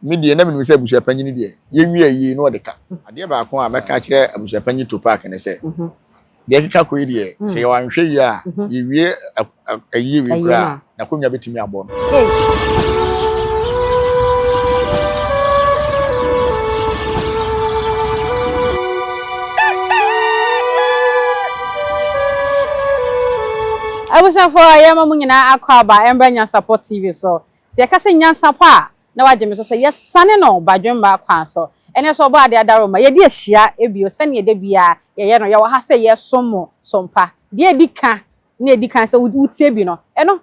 Me deɛ, na menim sɛ abusuapanyin deɛ, yɛnwie ayie na ɔde ka. Adeɛ baako a mɛka akyerɛ abusuapanyin Tupac ne sɛ, deɛ ɛkeka kɔ yi deɛ, sɛ yɛwɔ anhwɛyie a, yɛwie ayie wei koraa a, n'akonnwa bɛtumi abɔ no. Abusuafoɔ, yɛma mo nyinaa akɔ aba mmra Nyansapɔ TV so. Sɛ yɛka sɛ Nyansapɔ a, na wagye me so sɛ yɛsane no badwemma kwan so. Ɛnnɛ nso Ɔbɔadeɛ adaworoma, yɛde ahyia bio sɛnea da biara yɛyɛ no. Yɛwɔ ha sɛ yɛresom mo som pa. Deɛ edi kan, nea edi kan sɛ wotie bi no, ɛno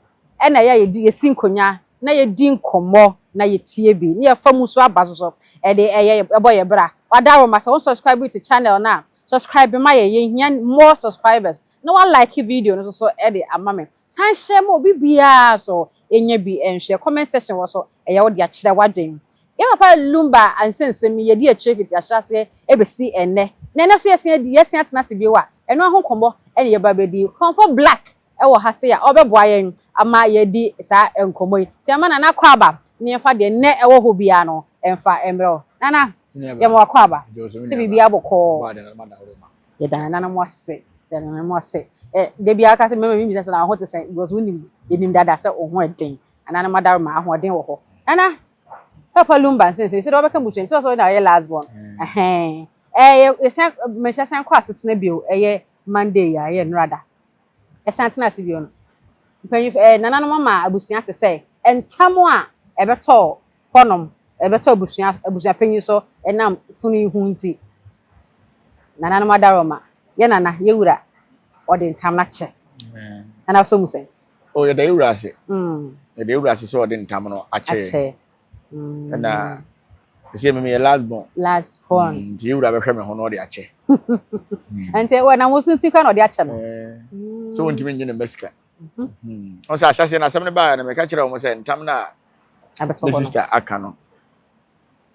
na ɛyɛ a yɛdi, yɛsi nkonnwa na yɛdi nkɔmmɔ na yɛtie bi na yɛfa mu nso aba so. So ɛde ɛyɛ, ɛbɔ yɛn bra? W'adaworoma, sɛ wo subscribe to channel no a, subscribe ma yɛn, yɛhia more subscribers, na wa like video no nso so de ama me. San hyɛ ma obi biara nso, Nya bi nhwɛ. Comment section wɔ so yɛ wo dea kyerɛ w'adwen. Yɛn papa Lumba nsɛnsɛm yi yɛdi akyire fiti ahyɛaseɛ ɛbɛsi ɛnnɛ. Na ɛnnɛ nso yɛsan adi, yɛsan atena ase bio a, ɛno ara ho nkɔmmɔ na yɛba abɛdi. Kɔmfɔ Black wɔ ha sei a ɔbɛboa yɛn ama yɛadi saa nkɔmmɔ yi. Nti yɛmma Nana kɔ aba na yɛmfa deɛ nnɛ ɛwɔ hɔ biara no mfa mmrɛ wo. Nana, yɛma wakɔ aba sɛ biribiara bɔkɔɔ. Yɛda yɛn nananom ase, yɛda yɛn nananom ase. Ɛ da biara ka sɛ mmarima bi bisa sɛ na wo ho te sɛn because wonim yɛnim dada sɛ wo ho den anaa no madaro ma ahoɔden wɔ hɔ. Nana Papa Lumba nsɛnsɛm yi sɛ deɛ wɔbɛka busua no sɛ ɔsɛ na ɔyɛ last born. Mm. Ɛhɛn. Ɛyɛ yɛsan mehyɛ san kɔ asetena bio ɛyɛ Monday a ɛyɛ nnora da. Ɛsan tena ase bio no. Mpanyinfo ɛɛ nananom ama abusua te sɛ ntam a ɛbɛtɔ Hɔnom, ɛbɛtɔ abusua abusuapanyin so ɛnam funu yi ho nti. Nananom Adaworoma, yɛ Nana, yɛ Wura, ɔde ntamena kyɛ. Nana so mu sɛn? O, yɛda yɛ Wura ase. Yɛda yɛ Wura ase sɛ ɔde ntam no akyɛ yɛn. Akyɛ. Ɛna, ɛsɛ me meyɛ last born. Last born. Nti yɛ Wura bɛhwɛ me ho na ɔde akyɛ. Ɛnti, ɛnam wo so nti koraa na ɔde akyɛ no. Sɛ wɔntumi nnye ne mma sika. ɔsɛ ahyɛseɛ no asɛm no baeɛ no meka kyerɛ wɔn sɛ ntam no a me sista aka no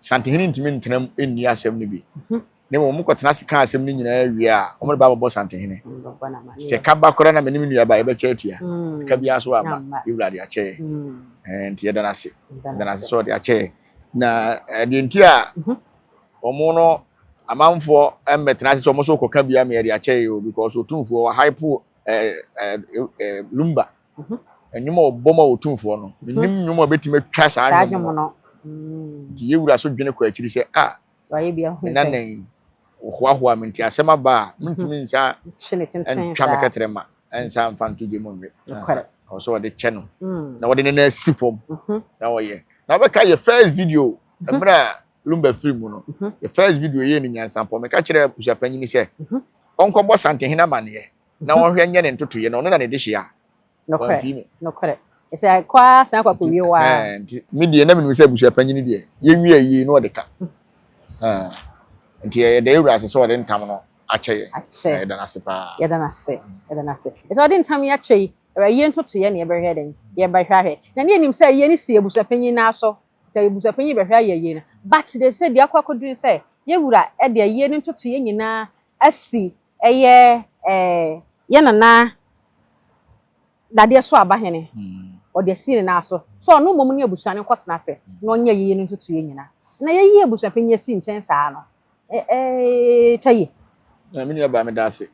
santehene ntumi ntenam nni asɛm no bi mhm. na mmom wɔkɔtena ase ka asɛm no nyinaa wie a wɔde ba abɛbɔ santehene sɛ ka ba koraa na me ne me nuaba yɛbɛkyɛ atua mm. ka biara so ama yɛwura de akyɛ yɛ mm. eh, nti yɛda no ase yɛda no ase sɛ ɔde akyɛ yɛ na eh, deɛ nti a mhm. wɔn no amanfoɔ mmɛtena ase sɛ wɔn nso kɔka biara ma yɛde akyɛ yɛ o because otumfoɔ wɔ hypo ɛɛ ɛɛ ɛɛ lumba nnwom a wɔbɔ ma otumfoɔ no menim nnwom a ɛbɛtumi atwa saa Saa nnwom nnwom no no. Mm. nti yɛwura so dwene kɔ akyiri sɛ a Wayɛ bi ahu me nana pɛn. yi wohoahoa me nti asɛm aba a mentumi nsa Hye ne tenten ntwa me saa. kɛtrɛ ma ɛnsa mfa nto gya mu nwe Nokware. Aha. ɛwɔ sɛ wɔde kyɛ no Mm. na wɔde ne nan si fam Mhm. na wɔyɛ na wobɛka yɛ first video mmerɛ a Lumba firi mu no, mhm. the first video yɛɛ no nyansampɔ. Meka kyerɛɛ abusuapanyin sɛ mhm. ɔnkɔbɔ Santehene amanneɛ na mhm. ɔnhwɛ nyɛ ne ntotoeɛ na ɔno na ne de hyia. Wɔamfii me. Nokorɛ. Ɛsɛ kɔ ara san kɔ akɔwie hɔ ara. Nti me deɛ na menim sɛ abusuapanyin deɛ yɛnwie ayie na ɔde ka. Nti ɛyɛ dɛ awura ase sɛ ɔde ntam no akyɛ yɛ. Akyɛ. Yɛda no ase paa. Yɛda no ase. Yɛda no ase. Ɛsɛ ɔde ntam yi akyɛ yi. Ɛwɛ ayie ntotoeɛ na yɛbɛhwɛ dɛn? Yɛbɛhwɛ ahwɛ. Na ne yɛnim sɛ ayie no si abusuapanyin no aso. Sɛ abusuapanyin yi bɛhwɛ ayɛ yie no, but they say deɛ akɔ akɔduru ne sɛ yɛn wura de ayie no ntotoeɛ nyinaa asi ɛyɛ eh, yɛn nana Dadeɛ Soabahene, ɔde asi ne nan so sɛ ɔno mmom ne abusua no nkɔtena ase na ɔnyɛ ayie no ntotoeɛ nyinaa. Na yɛyi abusuapanyin asi nkyɛn saa no, ɛ ɛ twa yie. Na me nuabaa meda ase.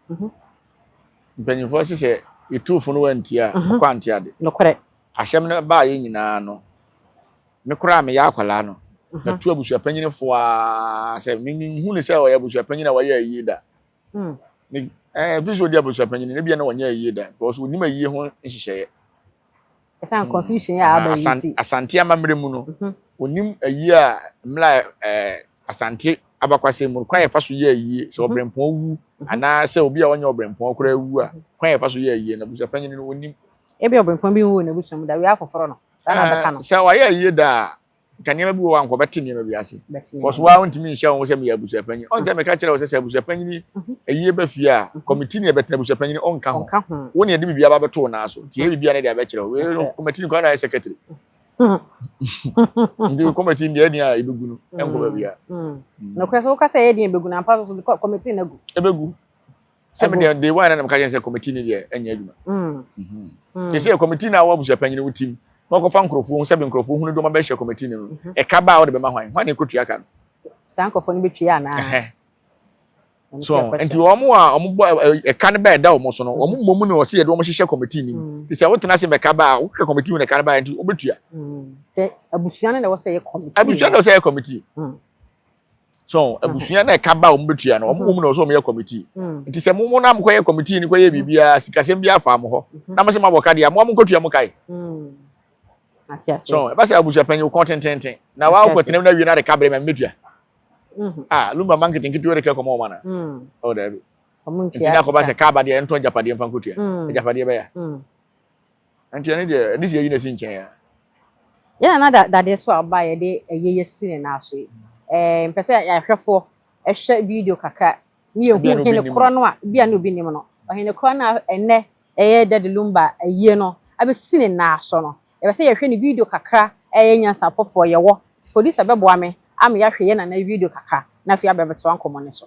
Mpanyimfoɔ se sɛ yɛtu fo no wantie a, ɔkɔ ante ade. Nokorɛ. Asɛm no baeɛ nyinaa no, me koraa a meyɛ akwadaa no, matu abusuapanyin fo ara sɛ menhu no sɛ ɔyɛ abusuapanyin a wayɛ ayie da. Hmm. Ne ɛɛ eh, fi so ɔdi abusuapanyin no ebia na wɔnyɛ ayie da because onim ayie ho nhyehyɛeɛ. Ɛsan hmm. confusion yɛ aba yi ti. Asante amammerɛ mu no, onim mhm. ayie a mmla ɛɛ eh, Asante abakwasɛm mu no, kwan a yɛfa so yɛ ayie sɛ ɔberempɔn wu anaa sɛ obi a ɔnyɛ ɔberempɔn koraa wu a, kwan a yɛfa so yɛ ayie no, abusua panyin no onim. Ebia ɔberempɔn bi nwu wɔ n'abusua mu da, wiɛ afoforo no, saa na wɔbɛka no. Sɛ wayɛ ayie da a, nka nneɛma bi wɔ hɔ a nka ɔbɛte nneɛma bi ase. Because wo ara wontumi nhyɛ wo ho sɛ meyɛ abusua panyin. Ɔnsɛ mhm. meka kyerɛ wo sɛ sɛ abusua panyin mhm. ayie ba fie a, mhm. kɔmiti ne ɛbɛtena abusua panyin ɔnka ho. Wo ne ɛde biribi aba bɛto wo nan so. Nti yɛ biribi a ne de abɛkyerɛ wo. Wei no kɔmiti no kwan na ayɛ secretary. nti kɔmɛti deɛ ɛdeɛ a ɛbɛgu no ɛnkɔ baabi a nokorɛ sɛ woka sɛ ɛyɛ deɛ ɛbɛgu no ampa so kɔmɛti no agu ɛbɛgu sɛ me deɛ de wan na meka kyɛn sɛ kɔmɛti no deɛ ɛnyɛ adwuma te sɛ kɔmɛti no a wɔabusua panyini wo tim na wɔkɔfa nkurɔfoɔ sɛ nkurɔfoɔ hunu dɔma bɛhyɛ kɔmɛti no no ɛka ba a wɔde bɛma hwan hwan na ɛkɔtua ka no saa nkurɔfoɔ no bɛtua anaa so nti wɔn a wɔn bɔ ɛka no bɛyɛ da wɔn so no wɔn mmɔ mu na wɔsi yɛ de wɔn hyehyɛ kɔmitii nim mm. te sɛ wotena ase mɛka ba a wokɛ kɔmitii mu na ɛka no ba yɛ nti wobɛtua. Mm. sɛ abusua no na wɔsɛ yɛ kɔmitii abusua na wɔsɛ yɛ kɔmitii mm. so abusua na ɛka ba a wɔn bɛtua no wɔn mmɔ mu na wɔsɛ wɔn yɛ kɔmitii nti sɛ mo mo na mo kɔ yɛ kɔmitii no kɔ yɛ biribiara sikasɛm bi afa mo hɔ mm-hmm. na mo sɛ mo abɔ kadeɛ mo a mo nkɔtua mo kae so ɛbɛ sɛ abusua panyin kɔn tententen na wɔn akɔ tena mu na wie na de ka bere mɛ mmɛtua. Mm-hmm. Ah, lumba man kete nkete wɛrɛ kɛ kɔmɔ ɔmana. Mm. Oh, dɛbi. Nti na kɔba sɛ kaaba deɛ ɛntɔn japadeɛ mfa nkotua. Mm. Japadeɛ bɛya. Mm. Nti ɛne deɛ ɛde si ayi na si nkyɛn ya. Yɛn na da dadeɛ so a ɔba yɛde ɛyɛ yɛ si ne nan so yi. Ɛɛ mpɛ sɛ yɛahwɛfoɔ ɛhwɛ video kakra ne yɛhu Ebia na obi hene nim korɔ no. no a bia na obi nim no ɔhene korɔ no a ɛnɛ ɛyɛ Daddy Lumba ayie no abɛsi ne nan so no yɛpɛ sɛ yɛhwɛ ne video kakra ɛyɛ nyansapɔfoɔ yɛwɔ nti producer bɛboa me ama yɛahwɛ yɛn nana yi video kakra na afei abɛtoa nkɔmmɔ no so.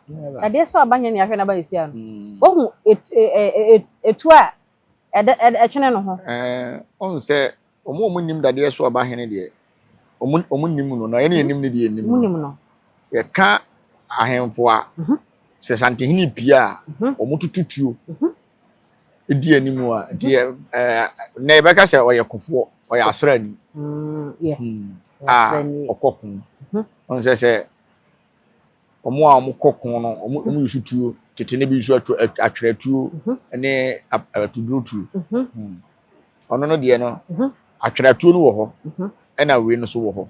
ɛdeɛ sɛ ɔba nyɛ nea ahwɛ n'aba nsia no wohu etuo a ɛtwene no ho ɔhu sɛ ɔmo ɔmo nim dadeɛ so ɔba hene deɛ ɔmo ɔmo nim no na ɛne ɛnim no deɛ ɛnim no yɛka ahemfo a mhm. sɛ santehene pii a mhm. ɔmo tutu tuo mhm. di anim a nti yɛ ɛɛ na yɛbɛka sɛ ɔyɛ kofoɔ ɔyɛ asraani mm, hmm. a ɔkɔ ko ɔno sɛ sɛ wɔn a wɔkɔ ko no wɔn wɔn yusu tuo tete ne bi yusu ato atwerɛ tuo ne atuduro tuo ɔno no deɛ no atwerɛ tuo no wɔ hɔ ɛna wei no so wɔ hɔ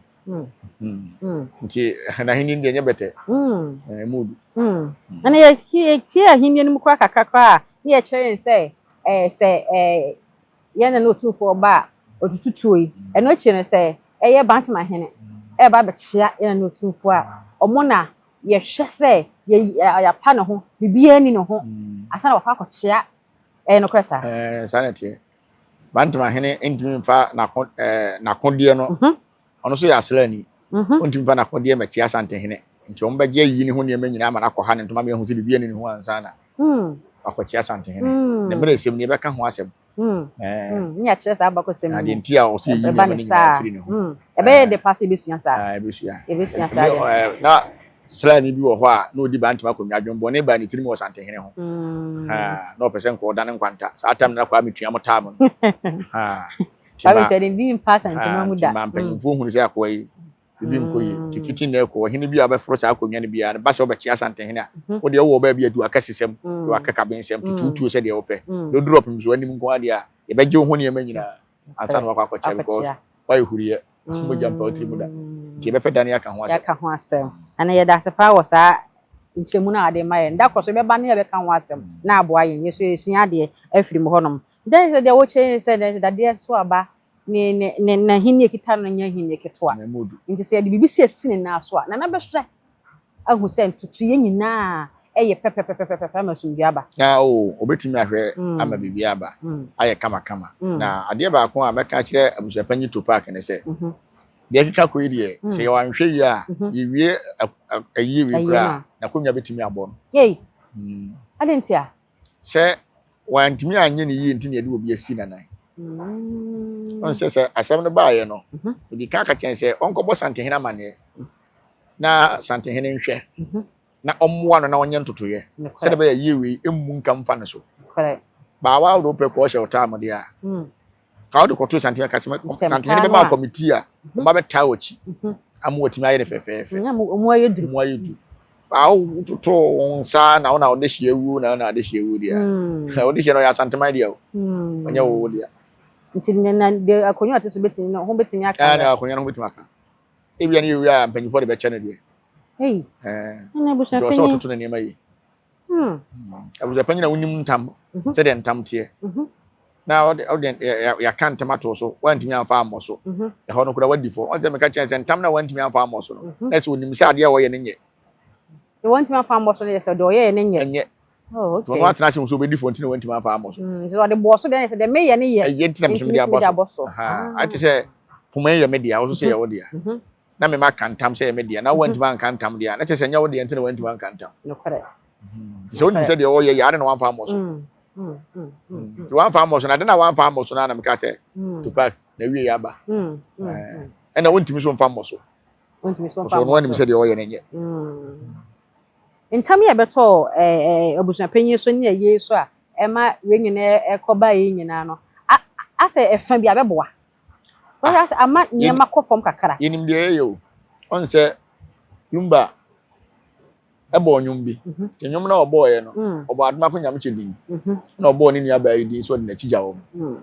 nti n'ahenni deɛ nyɛ bɛtɛ ɛmu bi ɛna yɛtie ahenni no mu kora kakra kora a ne yɛkyerɛ yɛn sɛ ɛɛ sɛ ɛɛ Yɛn na na Otumfoɔ ba a ɔtutu tuo yi, ɛno akyire no sɛ ɛyɛ Bantama hene, reba abɛkyea yɛn na na Otumfoɔ a ɔmo na yɛhwɛ sɛ yɛapa ne ho, biribiara nni ne ho ansa na wakɔ akɔkyea. Ɛyɛ nokorɛ saa? Ɛɛ, saa na ɛteɛ. Bantama hene ntumi mfa n'akodeɛ no. Ɔno nso yɛ asraani. Ontumi mfa n'akodeɛ mmɛkyea Asantehene, enti wɔbɛgye ayi ne ho nneɛma nyinaa ama no akɔha ne ntoma ma yɛahu sɛ biribi anni ne ho ansa na wakɔkyea Asantehene. Ne mmerɛsɛm ni, yɛbɛka ho asɛm. Na deɛ nti a ɔsɛ yɛyi nneɛma no nyinaa firi ne ho. Ɛbɛyɛ dɛ paa sɛ yɛbɛsua saa. Yɛbɛsua saa deɛ. Na sraani bi wɔ hɔ a na ɔdi Bantam akonnwa. Adwemmɔne baa ne tirim wɔ Asantehene ho. Na ɔpɛ sɛ nka ɔda no nkwanta. Saa tam no na Kwame Tuam taa mo no. Bible nso yɛde din mpa asantema mu da. Ma mpanyimfoɔ hunu sɛ akoa yi biribi nkɔ yie. Nti fiti nnɛ kɔ ɔhene bi a ɔbɛforo saa akonnwa no biara no ba sɛ ɔbɛkyea asantehene a, wo deɛ wowɔ baabi adu akɛsesɛm ne w'akakabensɛm, tutu tuo sɛdeɛ wopɛ. Deɛ ɔduru ɔpemsoɔ anim nko ara deɛ a, yɛbɛgye wo ho nneɛma nyinaa ansa na woakɔ akɔkyea because woayɛ huriiɛ. nso mogya mpa ɔtiri mu da nti yɛbɛpɛ da ne yɛaka ho asɛm yɛaka ho asɛm ɛna yɛda ase paa wɔ saa nkyɛmu no a ade ma yɛn da korɔ so yɛbɛba ne yɛbɛka ho asɛm na aboa yɛn yɛso yɛsua adeɛ afiri mu hɔnom dɛn sɛ deɛ wɔkyɛ yɛn sɛ dɛn sɛ dadeɛ so aba ne ne ne n'ahenni ekita no nyɛ ahenni ketewa nti sɛ yɛde biribi siesie ne nan so a nana bɛhwɛ ahu sɛ ntotoeɛ nyinaa yɛ pɛpɛpɛpɛpɛpɛ ama asomdwoeɛ aba. Na o, wɔbɛtumi ahwɛ ama biribiara aba ayɛ kamakama. Na adeɛ baako a mɛka akyerɛ Abusuapanyin Topak ne sɛ, deɛ ɛkeka kɔ yi deɛ, sɛ yɛwɔ anhwɛyie a, yɛwie ayie wei koraa a, n'akonnwa bɛtumi abɔ no. Ei! Adɛn ntia? sɛ wantumi anyɛ ne yie nti na yɛde obi asi n'anan mm. ɔn sɛ sɛ asɛm no baeɛ no mhm. ɔdi ka ka kyɛn sɛ ɔnkɔbɔ santehene amanneɛ na santehene nhwɛ mhm. na ɔmmoa no na ɔnyɛ ntotoyɛ sɛde bɛyɛ yie wei ɛmmu nka mfa no so baawa wode wopɛ kɔɔ hyɛ wo taa mode a mm. Ka wode kɔtoo Santene ka sɛ Santene bɛma wo kɔmitii a ɔma mhm. bɛtaa wɔkyi mhm. ama wɔatumi ayɛ no fɛfɛɛfɛ ɔmu ayɛ duru ɔmu ayɛ duru awo totoo wo nsa na wo na wode hyɛ awuo na wo na wode hyɛ awuo deɛ hmm. wode hyɛ no ɔyɛ asanteman deɛ o hmm. ɔnyɛ wo wo deɛ nti na de akonnwa ɔte so bɛtumi no ho bɛtumi aka ɛna eh, akonnwa no ho bɛtumi aka ebia ne yɛ wura a mpanyinfoɔ de bɛkyɛ no deɛ ɛyi ɛna abusua panyin ɔsɛ ɔtoto ne nneɛma yi Hmm. Abusuafo panyin a wonim ntam mhm. sɛdeɛ ntam teɛ mhm. na ɔde yɛaka ntam ato so wantumi amfa ammɔ so mhm. ɛhɔ no kora wadi fɔ ɔn sɛ meka kyerɛ sɛ ntam na wantumi amfa ammɔ so no na sɛ onim sɛ adeɛ a wɔyɛ no nyɛ wantumi amfa ammɔ so no yɛ sɛ deɛ ɔyɛɛ no nyɛ ɛnyɛ oh, ɔno atena ase nso obɛdi fɔ nti na wantumi amfa ammɔ so mm, nti ɔde bɔɔ so deɛ sɛ deɛ meyɛ no yɛ ɛyɛ nti na mesomede abɔ so ate sɛ poma yɛ me deɛ wo so sɛ yɛwo deɛ na me maka ntam sɛ ɛyɛ me deɛ na wantumi anka ntam deɛ a na kyerɛ sɛ ɛnyɛ wo deɛ nti na wantumi anka ntam nokorɛ nti sɛ wonim sɛ deɛ ɔyɛ yɛ ade na wamfa ammɔ so mm, mm, mm, nti wamfa ammɔ so na ade na wamfa ammɔ so no na meka sɛ tupac na wie yɛ aba ɛna wontumi so mfa mmɔ so ɔsɛ ɔno anim sɛ deɛ ɔyɛ no nyɛ ntam yɛ bɛtɔ abusuapanyin so ne ayie so a ɛma wei nyinaa ɛkɔba yi nyinaa no asɛ ɛfa bi abɛboa Wahwɛ ase ama nneɛma kɔ fam kakra. Yɛnim deɛ yɛyɛ o. Ɔn sɛ Lumba ɛbɔɔ nnwom bi. Mhm. Ne nnwom na ɔbɔɔeɛ no, Mm. ɔbɔɔ Adomako Nyamkyɛ din. Mhm. Ɛna ɔbɔɔ ne nuabaa yi din sɛ ɔde n'akyi gya wɔn. Mm.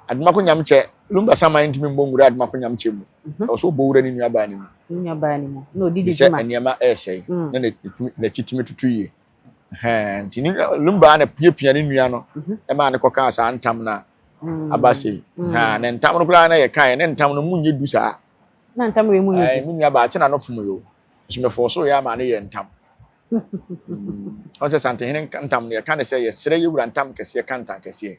Adomako Nyamkyɛ, Lumba Sama ntumi mmɔ nwura Adomako Nyamkyɛ mu. Mhm. Ɛwɔ sɛ ɔbɔ wura ne nuabaa no mu. Ne nuabaa no mu. Na ɔdi ne dwuma. Efisɛ nneɛma ɛresɛe. Mm. Na n'akyi tumi tutu yie. Hɛn, nti ne nua no baa na piapia ne nua no mhm. maa no kɔkaa saa ntam no a mm. aba sei. Mm. Hɛn, na ntam no koraa na yɛkaeɛ ne ntam no mu nyɛ du saa. Na ntam wei mu yɛ du. Me nua baa kyena no fom yo. Nso mefɔɔ so yɛ ama no yɛ ntam. Ɔn sɛ Santehene ntam no yɛka ne sɛ yɛserɛ yɛwura ntam kɛseɛ ka ntam kɛseɛ.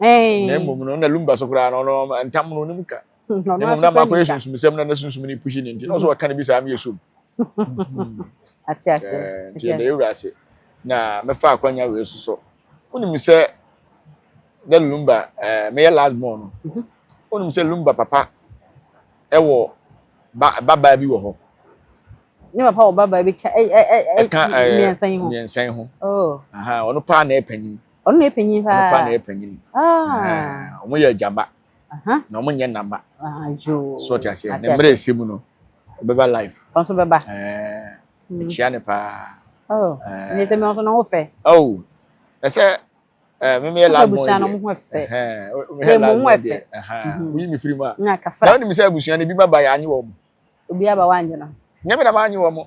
na mmom no na lumba so koraa no ɔno ntam no onim ka na mmom na makɔyɛ sunsumsɛm na na sunsum no pushi ne nti na ɔsɛ ɔka no bi saa meyɛ som ate ase eh, nti ɛda yɛwura ase na mɛfa akwanya wei so so wonim sɛ na lumba eh, meyɛ last born no mhm. wonim sɛ lumba papa ɛwɔ babaa bi wɔ hɔ ne papa wɔ babaa bi ka mmiɛnsa yi ho mmiɛnsa yi ho oh. ɔno paa na ɛpanyin ɔno na ɛpanyin paa ɔno paa na ɛpanyin ah. wɔn yɛ agyama na wɔn nyɛ nama ah, so ɔte aseɛ ne mmerɛ ɛsɛ mu no ɔbɛba life ɔno nso bɛba ɛkyia ne paa oh. ne sɛ mɛ ɔnso na ho fɛ oh. ɛsɛ mímí yɛ last born deɛ mímí yɛ last born deɛ woyi mi firi mu a na wɔn nim sɛ abusua no ebi ma ba yɛ anyi wɔn obi aba wa anyi no nyɛ mi na ma anyi wɔn.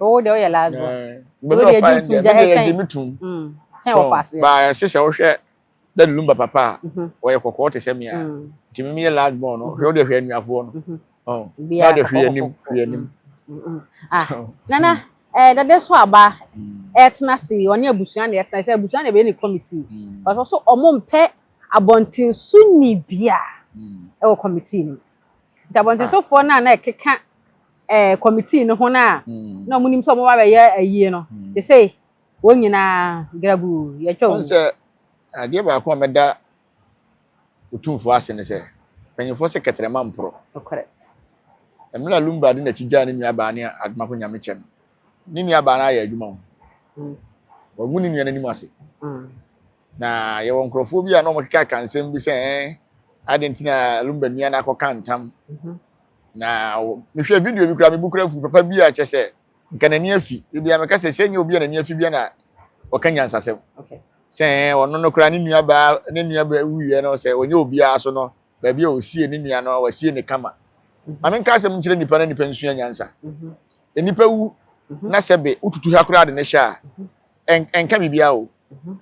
o deɛ woyɛ last born nti wo deɛ gye tum gya ɛkyɛn kyɛn wɔ faseɛ ba ɛse sɛ wohwɛ dadu lumba papa a ɔyɛ kɔkɔɔ te sɛ me a nti mimi yɛ last born no hwɛ wo deɛ hwɛ anuafoɔ no na deɛ hwɛ anim hwɛ anim nana ɛɛ dade so aba ɛtena se ɔne abusua na ɛtena sɛ abusua na ɛbɛyɛ ne committee ɔsɔ so ɔmo mpɛ abɔntenso ni bia ɛwɔ committee no Ntabɔntwesofoɔ no a na ɛkeka eh, committee no ho no a mm. na wɔnim sɛ wɔba bɛyɛ ayie no mm. te sɛ wɔn nyinaa grabu yɛtwa wɔn sɛ adeɛ baako a mɛda ɔtumfoɔ ase ne sɛ mpanyimfoɔ sɛ kɛtrɛma mporɔ mmerɛ a lumba de n'akyi gyaa ne nuabaa ne adomako nyame kyɛ no ne nuabaa no ayɛ adwuma ho mm. wɔagu ne nua no anim ase mm. Na yɛwɔ nkurɔfoɔ bi a na wɔkekaka nsɛm bi sɛ ɛn ade nti na lumba nua no akɔka ntam mhm. na mehwɛ video bi kura mebu kura fu papa bi a kyɛ sɛ nka n'ani afi ebia meka sɛ sɛ nyɛ obi a n'ani afi bia na ɔka nyansasɛm sɛ ɔno no kura ne nua baa ne nua baa wuyɛ no sɛ ɔnyɛ obiara so no baabi a ɔsie ne nua no wasie ne kama mhm. maame nka asɛm nkyerɛ nipa na nipa nsua nyansa mhm. nipa wu na sɛbe wotutu ha koraa de ne hyɛ a ɛnka biribiara o mhm.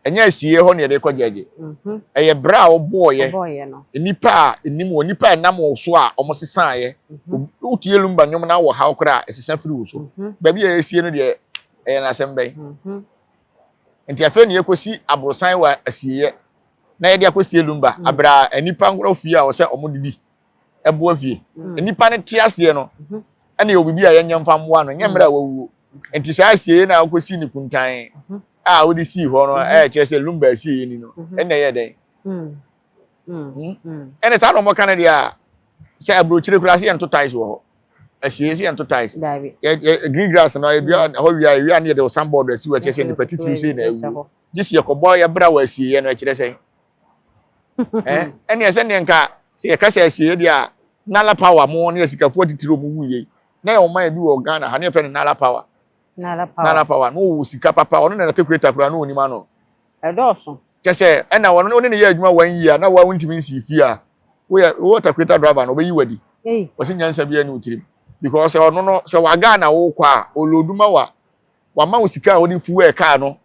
ɛnyɛ asieɛ hɔ na yɛde kɔ gyɛgye mhm. ɛyɛ berɛ a wɔbɔɔyɛ nnipa a ɛnim wɔ nnipa a ɛnam wo so a wɔsesaeɛ mhm. wotie lumba nnwom no wɔ haw koraa ɛsesa firi wo so baabi a ɛsie no deɛ ɛyɛ n'asɛm bɛn nti afei ne yɛkɔsi aborosan wɔ asieɛ na yɛde akɔsie lumba aberɛ a nnipa nkorɔ fie a wɔsɛ wɔdedi ɛboa fie mm. nnipa no te aseɛ no mhm. ɛna yɛ obibi a yɛnyɛ mfa mmoa no nyɛ mmerɛ a wawuo nti saa asieɛ na wokɔsi ne kuntan mhm. a wode sii hɔ no mhm. ɛyɛ kyerɛ sɛ lumba asieɛ ni no ɛna ɛyɛ dɛn mm. Mm. Hmm? ɛne saa na ɔmɔka no deɛ a sɛ aburokyire koraa sɛ yɛnto tais wɔ hɔ ahyia sɛ yɛnto tais green grass no ɛdua hɔ wia ɛwia ne yɛde ɔsan bɔɔdo asi wɔ ɛkyerɛ sɛ nipa titiri sei na awu gye sɛ yɛkɔbɔ yɛbra wɔ asieɛ no ɛkyerɛ sɛ eh ɛne ɛsɛ ne nka sɛ yɛka sɛ asieɛ deɛ a nala power mo ne asikafoɔ titiri mu wu yei na yɛ ɔman bi wɔ ghana ha ne yɛfrɛ no nala power nala power nala power no wɔ sika papa ɔno na nate kureta koraa no wɔnim ano ɛdɔɔso kyɛ sɛ ɛna wɔn ne ne yɛ adwuma wɔn yie a na wɔn ntumi nsi fie a woyɛ wɔ takureta driver no ɔbɛyi wadi wɔsi nyansa bi ɛne otirim because ɔno no sɛ waga na wokɔ a oloduma wa wɔama wo sika a wode fuwɛɛ kaa no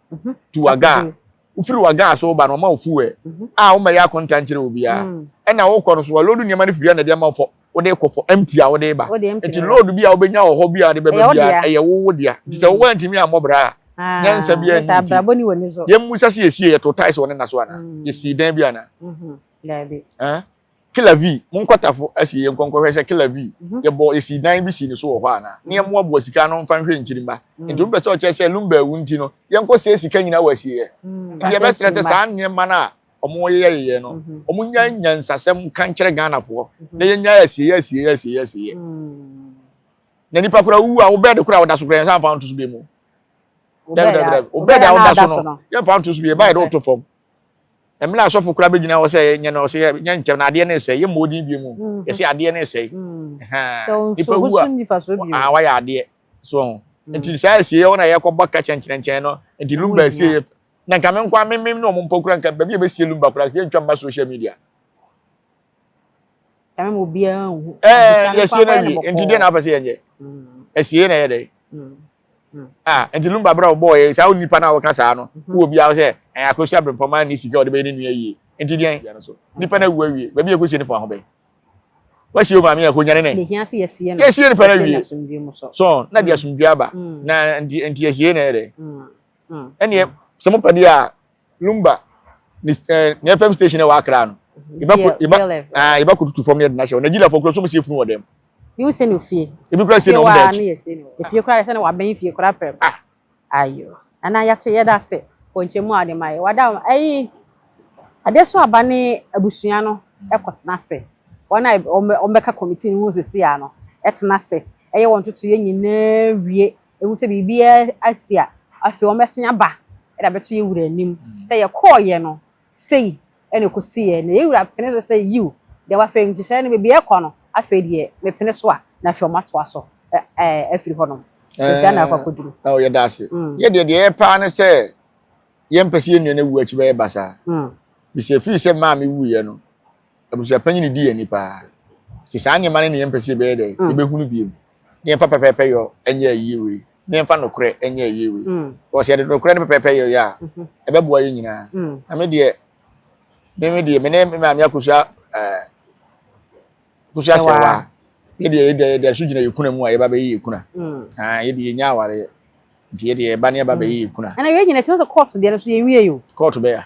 to waga a wofiri waga a so woba no wɔma wo fuwɛɛ a wommɛyɛ akonta nkyerɛ obiara ɛna wokɔ no so wɔloodu nneɛma no firi ɛna ɛde ama fɔ wode kɔ fɔ empty a wode ba nti load bi a wobɛnya wɔ hɔ bi a wode bɛba biara ɛyɛ wo wo dea nti sɛ wowɔ antumi ammɔ bra a Ah, nyansa bi ani nti yɛmmu sɛ sɛ yɛsie yɛto tae sɛ ɔne na so anaa mm. yɛsii dan bi anaa mm-hmm. daabi Killer V, Monkɔ Tafo asie yɛnkɔ nkɔhwɛ sɛ Killer V yɛbɔ yɛsii dan bi sii ne so wɔ hɔ anaa, na yɛmmoaboa sika ano mfa nhwɛ nkyirimma. Enti wopɛ sɛ ɔkyerɛ sɛ Lumba awu nti no, yɛnkɔ sie sika nyinaa wɔ asieɛ. Enti yɛbɛsrɛ sɛ saa nneɛma no a wɔyeyɛyeyɛ no, wɔnyae nyansasɛm nka nkyerɛ Ghanafoɔ na yɛnyae asieɛ asieɛ asieɛ asieɛ. Na nipa koraa ɔwu a, wo bɛɛde koraa a woda so koraa yɛnsan mfa wo nto so biom o. Dabi dabi dabi, wo bɛɛde a woda so no, yɛmfa wo nto so bio, ɛba yɛ dɛ woto fam. Mmerɛ a sɔfo koraa bɛgyina hɔ sɛ yɛnyɛ no, ɔsɛ yɛnyɛ ntɛm na adeɛ no resɛe. Yɛmmɔ odin bio mu. Mm. Yɛsɛ adeɛ no resɛe. Mm. Ahaa. Nipa wu a, ah, wayɛ adeɛ. So ho. Mm. Nti saa asie yɛ wɔn a yɛkɔbɔ ka kyɛnkyɛnkyɛn no. Nti lumba asie yɛ. Na nka me nko a memem ne wɔn mpɔ kura nka baabi a yɛbɛsie lumba koraa yɛntwa mma social media. Ɛɛ yɛsie no awie nti deɛ na apɛ sɛ yɛnyɛ asie na ɛyɛ dɛ ah nti lumba bra ɔbɔɔ yɛ saa nipa no a wɔka saa no wɔ biara sɛ ɛyɛ akɔhyia brempɔma ne sika ɔde bɛyɛ ne nua yie nti deɛ nipa no awu awie baabi ɛkɔsie no fo aho bɛn wasie o maame ɛkɔ nyane ne yɛsie nipa no awie so na de asomdwe aba na nti asie na ɛyɛ dɛ ɛneɛ sɛ mopɛ deɛ a lumba ne ɛɛ ne fm station na ɛwɔ akra no yɛba ko yɛba ɛɛ yɛba ko tutu fam na yɛde na ahyɛ nigeria fo kura so mo si efunu wɔ dɛm. yi wo se no fie. ebi kura se na ɔmo da akyi. efie kura se na wabɛn fie kura pɛrɛ. ah ayo ana yɛte yɛda ase wɔ nkyɛn mu a ɔde ma yɛ wada ɛyi adeɛ so aba ne abusua no ɛkɔ tena ase wɔn a wɔn bɛka kɔmiti no ho sisi ano ɛtena ase ɛyɛ wɔn toto yɛ nyinaa wie Ehu sɛ biribiara asi a, afei wɔbɛsan aba de abɛto yɛn wura anim sɛ yɛkɔeɛ no, sei na ɛkɔsiiɛ. Na yɛn wura pene so sɛ, Yiw, deɛ wafrɛ nhyehyɛeɛ no, baabiara ɛkɔ no, afei deɛ mepene so a, na afei wɔatoa so afiri hɔnom. Ɛɛ, saa na ɛkɔ akɔduru. Ɛɛ, yɛda ase. Mm. Yɛ deɛ deɛ yɛyɛ paa ne sɛ yɛmpɛ sɛ yɛn nua no awu akyi bɛyɛ basaa. Mm. Bisɛ fii sɛ maa me wuiɛ no, Abusuapanyin no di yɛn ni paa. Nti saa nneɛma no na yɛmpɛ sɛ yɛbɛyɛ dɛ, yɛbɛhunu bio. Ne yɛmfa pɛpɛɛpɛ yɔ nyɛ ayie wei, ne yɛmfa nokorɛ nyɛ ayie wei. Because sɛ yɛde nokorɛ ne pɛpɛɛpɛ yɛ yɛ a, ɛbɛboa yɛn nyinaa. Na me deɛ, me me deɛ, me ne me maame akosua ɛɛ akosua asɛwa. Yɛ deɛ yɛda yɛda so gyina yɛn kuna mu a yɛba bɛyɛ yɛn kuna. Haa yɛ deɛ yɛnya awareɛ. Nti yɛ deɛ yɛba ne yɛba bɛyɛ yɛn kuna. Ɛna wei nyina ɛkyerɛ sɛ court deɛ no so yɛnwie o. Court bɛya.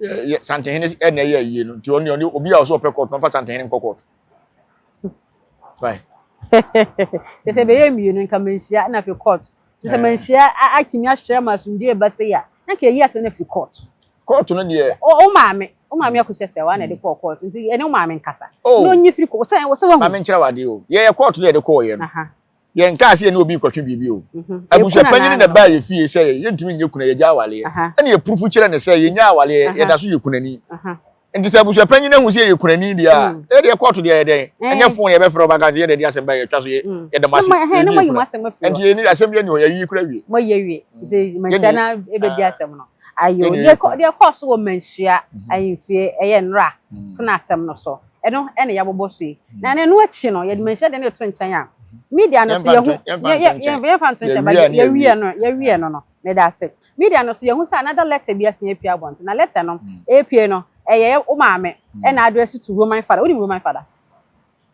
yɛ santehene ɛna ɛyɛ ayie no nti ɔne ɔne obi a ɔsɛ ɔpɛ kɔɔto ɔmfa santehene nkɔ kɔɔto te sɛ bɛyɛ mmienu nka manhyia na afei kɔɔto te sɛ manhyia atumi ahwɛ ma asomdue ba sɛ yɛ na nka ɛyi asɛ no afiri kɔɔto kɔɔto no deɛ wo maame wo maame akɔhyɛ sɛ wa na ɛde kɔɔ kɔɔto nti ɛne wo maame nkasa na ɔnyi firi kɔɔto sɛ wɔsɛ wahu maame nkyerɛ wade o yɛyɛ kɔɔto no yɛde kɔɔ yɛ no yɛn kaa sɛ yɛne obi kɔtwe biribi o mhm. abusuapanyin na baa yɛ fie sɛ yɛntumi nyɛ kuna yɛgya awaleɛ ɛna yɛpurufu kyerɛ ne sɛ yɛnya awaleɛ yɛda so yɛ kunani nti sɛ abusuapanyin ahu sɛ yɛ kunani deɛ a mm. ɛdeɛ kɔɔto deɛ yɛdɛn eh. ɛnyɛ fon yɛbɛfrɛ ɔba kan sɛ yɛde asɛm ba yɛtwa so mm. yɛda mo ase nti yɛni asɛm yɛni hɔ yɛyi kura wie moyɛ wie mm. sɛ manhyia na ɛbɛdi ah. asɛm no ayo deɛ kɔɔ so wɔ manhyia mhm. ahemfie ɛyɛ nnora tena asɛm no so ɛno ɛna yɛabobɔ so yi na ɛno akyi no yɛde manhyia deɛ no yɛto nkyɛn a media no so yɛhu yɛmfa nto nkyɛn ba yɛwie no yɛwie no no meda ase media no so yɛhu sɛ another letter bi asen apue abɔnten na letter no ɛpue no ɛyɛ wo maame ɛna address to roman father wonim roman father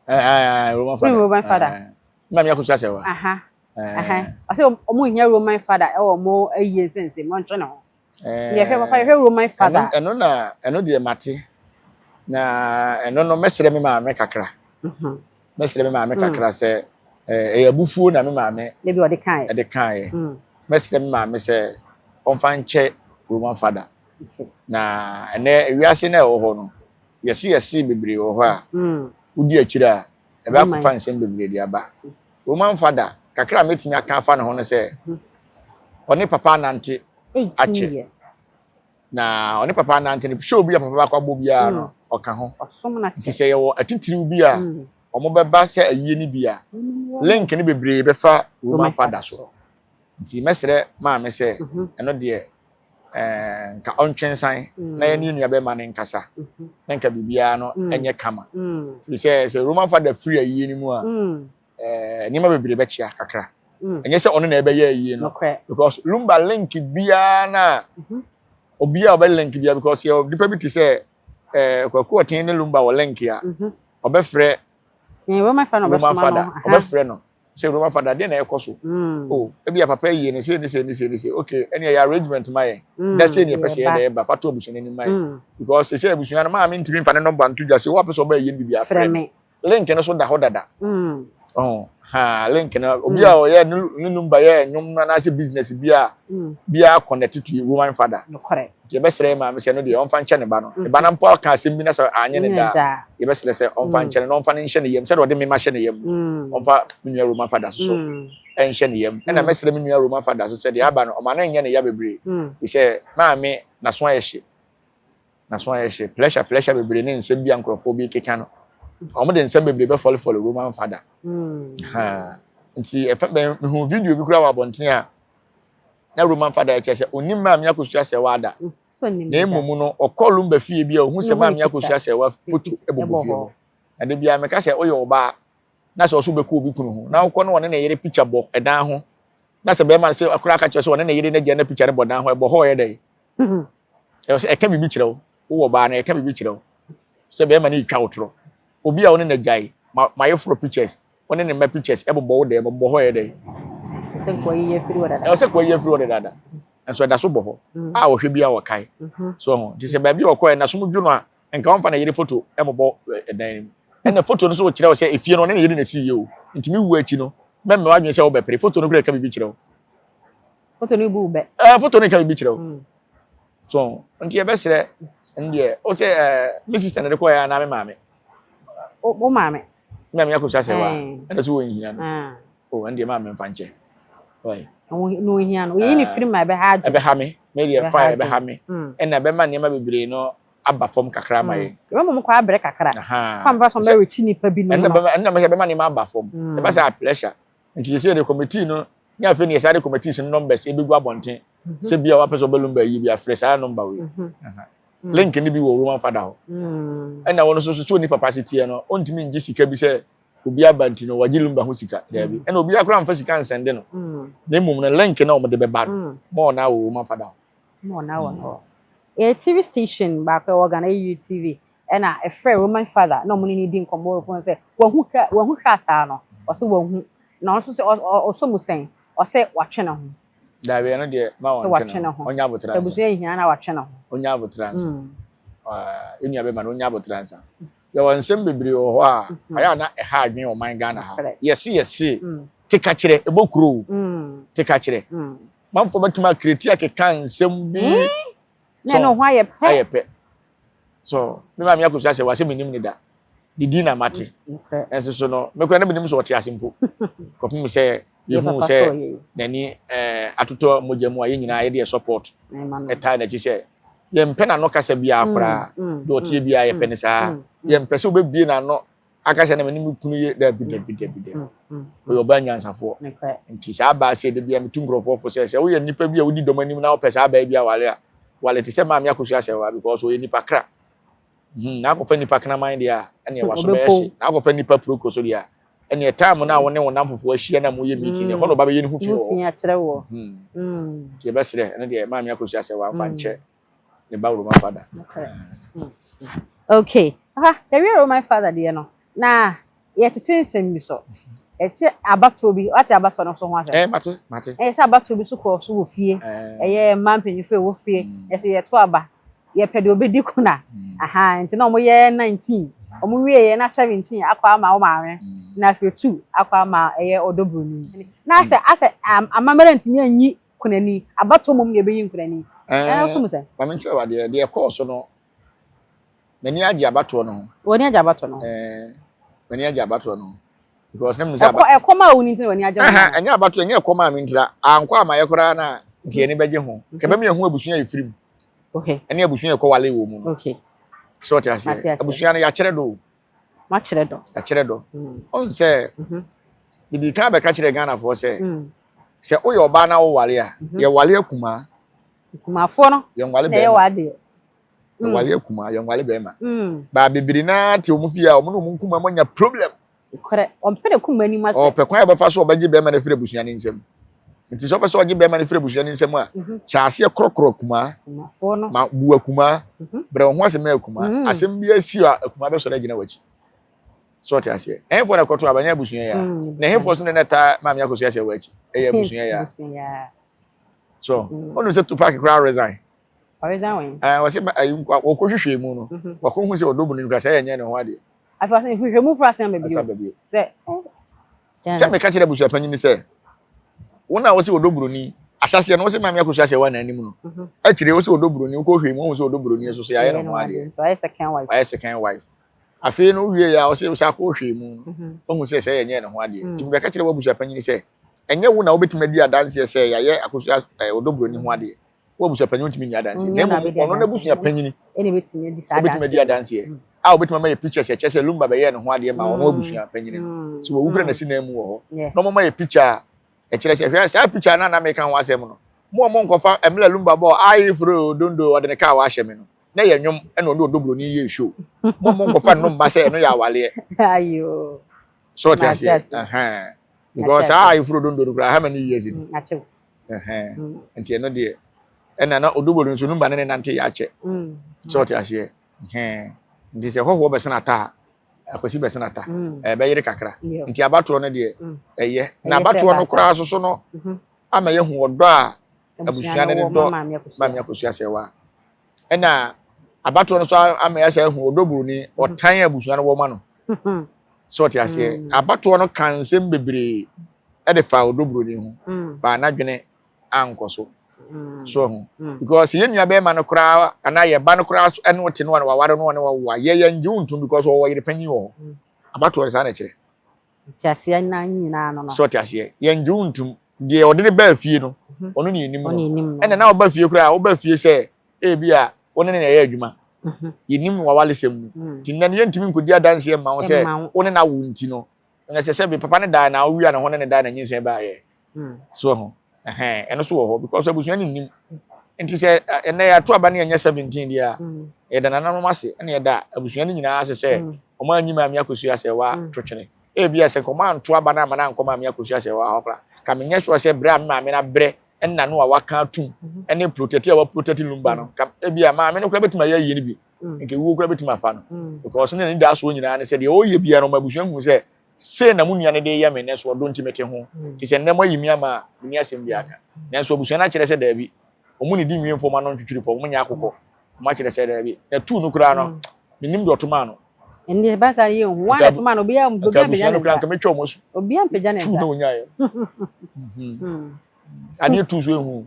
roman father wonim roman father na meakɔ so asɛ wa ɔsɛ ɔmo hia roman father ɛwɔ ɔmo ayie nsɛnsɛm ɔntwe ne ho yɛhwɛ papa yɛhwɛ roman father ɛno na ɛno deɛ mate na ɛno no mɛsrɛ me maame kakra mhm. mɛsrɛ me maame mm. kakra sɛ ɛyɛ abufuo na me maame ebi ɔde kan ɛde kan yɛ mm. mɛsrɛ me maame sɛ ɔmfa nkyɛ roman father na ɛnɛ wiase na ɛwɔ hɔ no yɛsi yɛsi bebree wɔ hɔ a mm. wodi akyire a Ɛbɛ akɔfa nsɛm bebree de aba. Wɔ mu amfa da. Kakra a mɛtumi aka afa ne ho ne sɛ, ɔne papa anante akyɛ. Na ɔne papa anante no, show bi a papa baako abɔ biara no, hmm. ɔka ho. Nti sɛ yɛwɔ atitiriw bi a hmm. wɔn bɛba sɛ ayie no bi a, link no bebree bɛfa wɔ mu amfa da so. Nti mɛsrɛ maame sɛ, mhm. ɛno deɛ ɛɛ nka ɔntwe nsan mm. na yɛne nua bɛma no nkasa mhm. na nka biribiara no mm. ɛnyɛ kama mm. firi sɛ sɛ roman fada firi ayie no mu a ɛɛ nneɛma bebree bɛkyea kakra ɛnyɛ sɛ ɔno na ɛbɛyɛ ayie no because lumba link biara na mhm. obiara ɔbɛ link biara because yɛ nipa bi te sɛ ɛɛ kwaku ɔtɛn ne lumba wɔ link a mhm. ɔbɛfrɛ roman fada ɔbɛfrɛ no Sɛ Roma fada, dɛn na ɛkɔ so? O, ebia papa ayi no sei ne sei ne sei ne sei. Okay, ɛnneɛ yɛ arrangement ma yɛn. Da sei na yɛpɛ sɛ yɛda yɛba. Fa to abusua no anim ma yɛn. Because seesei abusua no, maame ntumi mfa ne nɔmba nto dwa. Sɛ obi pɛ sɛ ɔba ayie no biribi a, frɛ me. Link no so da hɔ dada. Ɔho, ha, link no, obi a ɔyɛ ne numba yɛ nnwom anaasɛ business bi a, biara connect to Roman fada. Nokorɛ. yɛbɛsrɛ yɛ maame sɛ ɛno deɛ ɔmfa nkyɛ ne ba no ne ba no mpo aka asɛm bi na sɛ anyɛ ne da a yɛbɛsrɛ sɛ ɔmfa nkyɛ no na ɔmfa no nhyɛ ne yam sɛdeɛ ɔde mema hyɛ ne yam no ɔmfa me nua roma fa da so so ɛnhyɛ ne yam ɛna mɛsrɛ me nua roma fa da so sɛ deɛ aba no ɔma no nyɛ ne ya bebree fi sɛ maame naso ayɛ hye naso ayɛ hye pressure pressure bebree ne nsɛm bi a nkurɔfoɔ bi keka no wɔn de nsɛm bebree bɛfɔlefɔle roma mfa da nti ɛfɛ bɛn mehu video bi koraa wɔ abɔnten a na Roman fa da ɛkyɛ sɛ ɔnim Maame Akosua Sɛɛwa da, na mmom no ɔkɔ Lumba fie bi a ɔhu sɛ Maame Akosua Sɛɛwa putu bɔbɔ fie hɔ. Na da biara meka sɛ woyɛ ɔbaa na sɛ ɔso bɛkɔ obi kunu ho na wokɔ na ɔne ne yere pikya bɔ ɛdan ho na sɛ bɛrima no sɛ akora aka kyerɛ sɛ ɔne ne yere n'agya na pikya no bɔ dan ho ɛbɔ hɔ ɔyɛ dɛn? Ɛwɔ sɛ ɛka biribi kyerɛ wo wowɔ ɔbaa no ɛka biribi kyerɛ wo sɛ bɛrima no retwa wo torɔ. Obi a wo ne no agyae ma mayeforo pictures wo ne ne mma pictures ɛbobɔ wo dɛm ɛbobɔ hɔ ɛyɛ dɛn. Ɛsɛ nka wayi afiri hɔ dada. Ɛsɛ nka wayi afiri hɔ dadaada nso ɛda so bɔ hɔ a wɔhwɛ bi a wɔkae so ho nti sɛ baabi a wɔkɔɛ na som dwo no a nka wɔmfa ne yere foto ɛmobɔ ɛdan no mu ɛna foto no so wɔkyerɛ wo sɛ efie no ɔne ne yere na ɛsii yɛ o nti me wuo akyi no mɛmɛ w'adwene sɛ wobɛpere foto no kura ɛka biribi kyerɛ wo foto no bu bɛ ɛɛ foto no ɛka biribi kyerɛ wo So nti yɛbɛsrɛ ndeɛ wo sɛ ɛɛ eh, me sister na de kɔɛ anaa me maame. wo maame. me maame akɔsua sɛ wa ɛna so wɔ nhia no ah. o oh, ɛndeɛ maame mfa nkyɛ. na ohia no oyi ne ah. firi ma ɛbɛha adwo ɛbɛha me me deɛ fa ɛbɛha me hmm. ɛna ɛbɛma nneɛma bebree no aba fam kakra ma yɛ. ɛbɛ mɔmu kɔ abere kakra kɔ amfa sɔn bɛ rekyi nipa bi nínú ma ɛnna bɛ ɛnna bɛ bɛma nínú aba fam ɛbɛ sɛ a pressure Nti yɛsɛ yɛde committee no ne afei ne yɛsa de committees no numbers ebegu abɔnten sɛ bi a wapɛ sɛ ɔbɛlum bɛyi bi afrɛ saa number wei link no bi wɔ roman fada hɔ ɛna wɔn nso so sɛ onipa pa aseteɛ no ɔntumi ngye sika bi sɛ obi aba nti no wɔgye lumba ho sika daabi ɛna obi akora mfa sika nsɛnde no na mmom no link na wɔde bɛba no ma ɔna wɔ roman fada hɔ ma ɔna wɔ hɔ yɛ tv station baako ɛwɔ ghana ɛyɛ tv Ɛna ɛfrɛɛ Roman Father na ɔmo ne no di nkɔmɔ wɔ fone sɛ wahu ka wahu krataa no ɔse wahu na ɔno nso sɛ ɔsɔ mu sɛn ɔse watwe ne ho. Dawie no deɛ ma ɔntwe ne ho ɔnyɛ aboterɛ ansa. Sɛ abusua nhia no a watwe ne ho. Ɔnyɛ aboterɛ ansa yɛn nua bɛma no ɔnyɛ aboterɛ ansa yɛwɔ nsɛm bebree wɔ hɔ a ayɛ a na ɛha adwene wɔ man Ghana ha yɛse yɛse tekakyerɛ ɛbɔ kuro o tekakyerɛ manfoɔ bɛtumi akreti akeka nsɛm bi sɛ ayɛ pɛ. so me maame akosua sɛ wasɛ menim ne da ne din na mate ɛnso so no mekora na menim sɛ ɔte ase mpo kɔpem sɛ yɛhu sɛ n'ani eh, atotɔ mogya mu a yɛ nyinaa yɛde yɛ support ɛtaa n'akyi sɛ yɛmpɛ n'ano kasa biara mm, koraa mm, deɛ ɔteɛ mm, biara yɛpɛ ne saa yɛmpɛ sɛ wobɛbie n'ano aka sɛ na mene me kunu yɛ dabi dabi dabi dabi mm, mm, mm. ɔyɛ ɔbaa nyansafoɔ nti saa baa sɛ dabi a metu nkurɔfoɔ fo sɛ sɛ woyɛ nnipa bi a wodi dɔm anim na wopɛ saa baa bi awale a wale te sɛ maame akosua sɛ wa because ɔyɛ nipa kra hmm, na akɔfa nipa kraman deɛ a ɛne ɛwa so bɛyɛ hye na akɔfa nipa proko so deɛ a ɛne ɛtaa mo no a wo ne wo nam fofoɔ ahyia na moyɛ meeting ɛhɔ na ɔba bɛyɛ ne ho fi wɔ hɔ hmm. hmm. nti yɛbɛserɛ ɛne deɛ maame akosua sɛ wamfa nkyɛ ne ba roman father. okay aha yɛwie roman father deɛ no na yɛtete nsɛm bi so ɛsɛ abatoɔ bi wate abatoɔ no so ho asɛm ɛɛ eh, mate mate ɛyɛ sɛ abatoɔ bi so kɔɔ so wɔ fie eh. ɛyɛ mmaa mpanyinfo ɛwɔ fie mm. ɛsɛ yɛto aba yɛpɛ deɛ obedi kuna mm. aha nti na wɔn yɛ nineteen wɔn wie yɛ na seventeen akɔ ama wɔn maame mm. na afei two akɔ ama ɛyɛ ɔdɔ buroni na asɛ asɛ amammerɛ ntumi anyi. kunani. Abatoɔ mmom na yɛbɛyi nkunani. Ɛɛ, nso mu sɛ. Ma me nkyerɛ wo adeɛ, deɛ ɛkɔɔ so no, m'ani agye abatoɔ no ho. W'ani agye abatoɔ no ho? Ɛɛ, m'ani agye abatoɔ no ho. Because na menim sɛ aba. Ɛkɔ ɛkɔm a wo ni nti na w'ani agye ho. Ɛhɛn, ɛnyɛ abatoɔ, ɛnyɛ ɛkɔm a me nti na, ankɔ amayɛ koraa na nka yɛn ani bɛgye ho. Nka ɛbɛma yɛahu abusua a yɛfiri mu. Okay. Ɛne abusua a yɛkɔwale wɔ mu no. Okay. Sɛ wote aseɛ? Mate aseɛ. Abusua no, yɛakyerɛ do o. Wakyerɛ dɔ. Akyerɛ dɔ. Mm. Ɔn sɛ mhm. mede kan bɛka kyerɛ Ghanafoɔ sɛ mm. sɛ woyɛ ɔbaa na wowale a mhm. yɛwale akumaa. Akumafoɔ no yɛnwale bɛrima. Yɛwɔ adeɛ. Yɛwale mm. akumaa yɛnwale bɛrima. Baa bebree naa te wɔn fie a wɔn ne wɔn nkumaa mu anya problem. Korɛ ɔmpɛ ne kuma anim asɛ. Ɔpɛ kwan a ɔbɛfa so ɔbɛgye bɛrima no afiri abusua ne nsam. nti sɛ ɔpɛ sɛ ɔgye bɛrima no firi abusua no nsam a mhm. hyɛ aseɛ korɔkorɔ akumaa ma bu akumaa mhm. brɛ wo ho ase ma akumaa mhm. asɛm bi asi a akumaa bɛsɔre agyina w'akyi sɛ ɔte aseɛ ɛhefoɔ na ɛkɔto aba nyɛ abusua yɛ a na ɛhefoɔ so ne na ɛtaa maame akɔso yɛ sɛ w'akyi ɛyɛ abusua yɛ a so ɔnu sɛ tupac koraa resign wɔsɛ wɔkɔhwehwɛ mu no wakɔhu sɛ ɔdɔ bu no nkura sɛ ɛyɛ nyɛ ne ho adeɛ afei wɔsɛ hwehwɛ mu fura sɛn baabi sɛ Sɛ meka kyerɛ abusuapanyin bi sɛ, wɔn a wɔsɛ wɔdɔ buroni, asaseɛ no wɔsɛ maame akosua ahyɛ wɔn anan mu no, mhm. akyire wɔsɛ wɔdɔ buroni, wokɔ hwɛ mu wɔn sɛ wɔdɔ buroni nso so yɛayɛ no ho adeɛ. Wayɛ second wife. Wayɛ second wife. Afei no wie yɛ a wɔsɛ wɔsɛ akɔ hwɛ mu no, mhm. wɔn sɛ sɛ yɛnyɛ ne ho adeɛ. Mm. Nti meka kyerɛ wɔn abusuapanyin sɛ, ɛnyɛ wo na wobɛtumi adi adanseɛ sɛ yɛayɛ akosua ɛɛ eh, wɔdɔ buroni ho adeɛ. wo abusuapanyin ntumi nni adanseɛ na mmom ɔno n'abusua panyini ɛna ebetumi adi saa adanseɛ obetumi adi adanseɛ hmm. a obetumi ama yɛ pictures ɛkyɛ sɛ lumba bɛyɛ ne ho adeɛ ma ɔno hmm. abusua panyini no hmm. so wɔwu kura n'asi nan mu wɔ hɔ na wɔn ma yɛ picture a ɛkyerɛ sɛ hwɛ saa picture no anam ɛka ho asɛm no mo a mo nkɔfa ɛmla lumba bɔ ayi furo dondo ɔde ne kaa wahyɛ mi no na yɛ nwom ɛna ɔde ɔdɔ buroni yɛ show mo a mo nkɔfa no mma sɛ ɛno yɛ awaleɛ so ɔte aseɛ because saa ayi furo dondo no kura how many years ni. nti ɛno deɛ ɛna na odobori nso no ba ne ne nante yɛ akyɛ mm. sɛ ɔte aseɛ nti sɛ hɔhoɔ bɛsena ata a akwasi bɛsena ata mm. ɛbɛyere kakra nti abatoɔ no deɛ mm. ɛyɛ na abatoɔ no koraa soso no mm-hmm. ama yɛhu ɔdɔ a abusua no de dɔ maame akosua sɛ wa ɛna abatoɔ no nso ama yɛasa ahu ɔdɔ buroni ɔtan abusua no wɔma no sɛ ɔte aseɛ mm. abatoɔ no ka nsɛm bebree ɛde fa ɔdɔ buroni ho mm. baa n'adwene ankɔ so mm. so ho because yɛn nua bɛrima no koraa anaa yɛ ba no koraa so ɛne ɔte no a na waware no a na wawo a yɛyɛ ngye wo ntom because ɔwɔ yere panyin wɔ hɔ abatoɔ no saa na ɛkyerɛ Nteaseɛ nnan nyinaa no no. So ɔte aseɛ? Yɛngye wo ntom. Deɛ ɔde no baa fie no, ɔno na yɛnim no. Ɛnna na woba fie koraa a, woba fie sɛ ebi a wo ne no na ɛyɛ adwuma. Yɛnim no w'awaresɛm mu. Nti nnɛ no yɛntumi nkɔdi adanseɛ mma wo sɛ wo ne no awo nti no, na ɛsɛ sɛ bi papa no dae na wowia ne ho ne no dae na nyinsɛn baeɛ. Hmm. So ɛho. Ɛhɛn, ɛno so wɔ hɔ because abusua no nnim. Nti sɛ ɛnɛ yɛato aba ne yɛnyɛ 17 deɛ a, hmm. yɛda nananom ase ɛna yɛda abusua no nyinaa ase sɛ hmm. wɔn anyi maame akosua asɛ wa hmm. to twene. Ebi a sɛ nkɔmɔ anto aba no ama no ankɔ maame akosua asɛ wa hɔ Ka menyɛ sure sɛ berɛ a me maame no abrɛ ɛna no a waka atum mhm. ɛne protɛti a waprotɛti lumba no. Ka ebi a maame no kora bɛtumi ayɛ ayie no bi. Nka ewuo kora bɛtumi afa no. Because ne ne da soɔ nyinaa ne sɛ deɛ ɔyɛ biara no ɔma abusua hu sɛ Sei na mo nua no de reyɛ me nnɛ, so ɔdɔ nti mete ho? Te sɛ nnɛ moayi me ama a menni asɛm biara ka. Nanso abusua no akyerɛ sɛ daabi. Wɔnnidi nwie mfa wɔn ano ntwitwiri fam, wɔnyɛ akokɔ. Wɔakyerɛ sɛ daabi. Na tuu no koraa no, mennim deɛ ɔtomaa no. Ɛnneɛ ɛba saa no yɛnhu. Wɔn a na ɛtomaa no, obiara ampagya ne nsa. Anka abusua no koraa, anka mɛtwa wɔn asu. Obiara ampagya ne nsa. Tuu na wɔnyaeɛ no. Adeɛ tuu so ɛnhuu.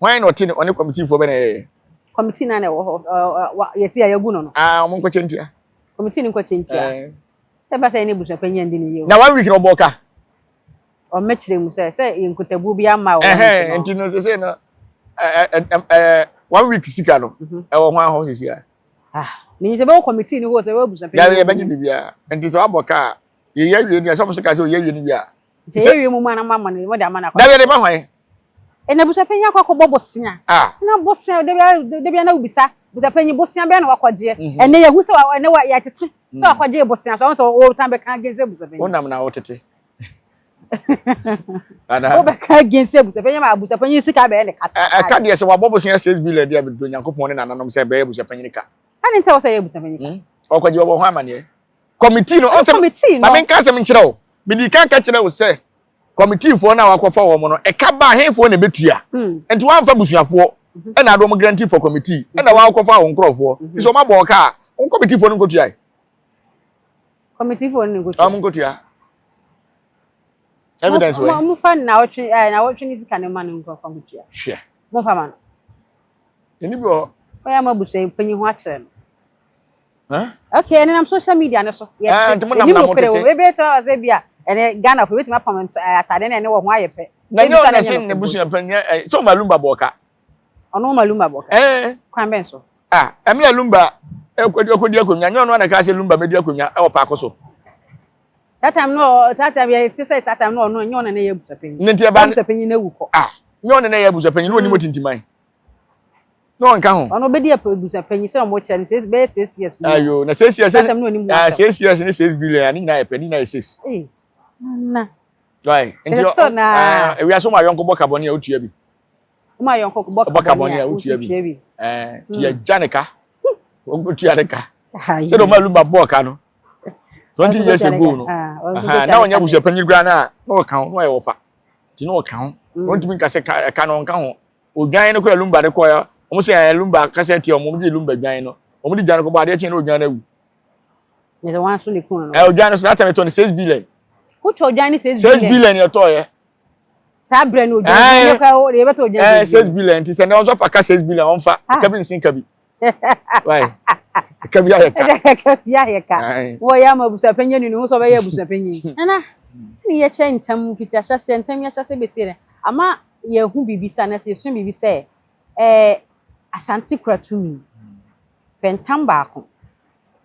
Hwan na ɔte ne ɔne kɔmitiifoɔ bɛ na ɛyɛyɛ? Kɔmitii no a na ɛwɔ hɔ yɛsi a yɛagu no no. Ah, wɔn nkɔkyɛ ntua. Kɔmitii no nkɔkyɛ ntua. Ɛba sɛ yɛne abusua panyin ndi ne yie o. Na one week na ɔbɔɔ ka. Ɔmmɛkyerɛ mu sɛ sɛ yɛn nkutabuo bi amma wɔ one week no. Nti no sese no one week sika no ɛwɔ hwan hɔ sisi a? Ah, menim sɛ bɛwɔ kɔmitii no hɔ sɛ bɛwɔ abusua panyin. Yɛbɛgye biribiara. Nti sɛ wabɔ ka a yɛyɛ awie no yɛ sɛ wɔn nso ka sɛ ɔyɛ awie no wie a. sɛ yɛ wie mu mu anam ama no mo de ama no akɔ dabi ɛde ma hwan ɛna busa panyin akɔ akɔbɔ bosea na bosea dabi dabi ana wobisa busa panyin bosea bɛn na wakɔgyeɛ mhm. ɛnɛ yɛhu sɛ ɛnɛ wa yɛtete sɛ wakɔgyeɛ bosea so ɔn sɛ ɔsan bɛka gen sɛ busa panyin wonam na wotete wobɛka gen sɛ busa panyin ma busa panyin sika bɛyɛ ne kasa ɛka deɛ sɛ wabɔ bosea six billion deɛ bɛduro nyankopɔn ne nananom sɛ bɛyɛ busa panyin ka ɛne sɛ wɔ sɛ yɛ busa panyin ka hmm? ɔkɔgye wɔbɔ ho amaneɛ Kɔmitii no, ɔnsɛm, kɔmitii no. Na menka asɛm nkyerɛ wo. Mede kan ka kyerɛ wo sɛ, kɔmitiifoɔ no a wakɔfa wɔn no, ɛka baa hefoɔ na ɛbɛtua? Hmm. Nti wɔamfa busuafoɔ mhm. ɛna ade wɔn guarantee for kɔmitii mhm. ɛna wɔakɔfa wɔn nkorɔfoɔ. Mhm. Nti sɛ wɔabɔ wɔn kaa, wɔn kɔmitiifoɔ no nkɔtua yi. Kɔmitiifoɔ no nkɔtua. Wɔn nkɔtua. Evidence wɔ yi. Mofa na wɔtwe ɛɛ na wɔtwe ne sika ne ma no nkɔfa nkɔtua. Hwɛ. Mofa ma no. Ɛni bi wɔ. Wɔyɛ ama busua mpanyin ho akyerɛ no. ok ɛne nam social media no so yɛnim nokorɛ wɔ ɛbɛyɛ sɛ wɔ sɛ bi a ɛne Ghana fo ɛbɛtumi apam atade na ɛne wɔ ho ayɛ pɛ na nyɛ ɔna se ne busua pɛ nyɛ sɛ ɔma lumba bɔ ɔka ɔno ɔma lumba bɔ ɔka kwan bɛn so ah ɛmi na lumba ɛkɔdi akonnwa nyɛ ɔno ana ka sɛ lumba mɛdi akonnwa ɛwɔ paako so that time no that time yɛ ti sɛ that time no ɔno nyɛ ɔna na yɛ abusuapanyin ne ti ɛba abusuapanyin na ewu kɔ ah nyɛ ɔna na yɛ abusuapanyin na onim otintiman na ɔnka ho. ɔno ɔbɛdi abusuapanyin sɛ ɔmo kyɛ no sɛ bɛyɛ six years ni ayo na six years sɛtɛm ne ɔnim wasɛm six years ne six billion ne nyinaa yɛ pɛ ne nyinaa yɛ six na right nti ewia so ma yɔnko bɔ kabɔne a wotua bi ma yɔnko bɔ kabɔne a wotua bi ɛɛ ti yɛ gya ne ka wɔn tua ne ka sɛ de ɔmo aluma bɔɔ ka no twenty years ago no na ɔnyɛ abusuapanyin koraa na na ɔka ho na ɔyɛ ɔfa ti na ɔka ho wɔn tumi nka sɛ ka no ɔnka ho. Odwan no kora Lumba de kɔɛ. Wɔn sɛ ɛɛ Lumba kasa tia wɔn. Wɔn de Lumba dwan no. Wɔn de dwan no kɔbɔ adeɛ kyen na odwan no awu. Ne sɛ wɔn aso ne kun no. Ɛɛ odwan no so n'atɛm ɛtɔ ne six billion. Wotɔ odwan ne six billion. Six billion yɛ tɔ yɛ. Saa brɛ no odwan no yɛ kora yɛ bɛtɔ odwan. Ɛɛ six billion ti sɛ ne wɔn nso afa ka six billion wɔn fa. Kabi nsin kabi. ɛka bi ayɛ ka ɛka bi ayɛ ka wɔyɛ ama abusuapɛnyɛ ni ne ho sɛ ɔbɛyɛ abusuapɛnyɛ hmm. nana sɛne yɛkyɛ ntam fiti ahyɛseɛ ntam yɛahyɛseɛ bɛsie no ama yɛhu biribi sɛ anasɛ yɛsu biribi sɛ ɛɛ asante kura tumi pɛntam baako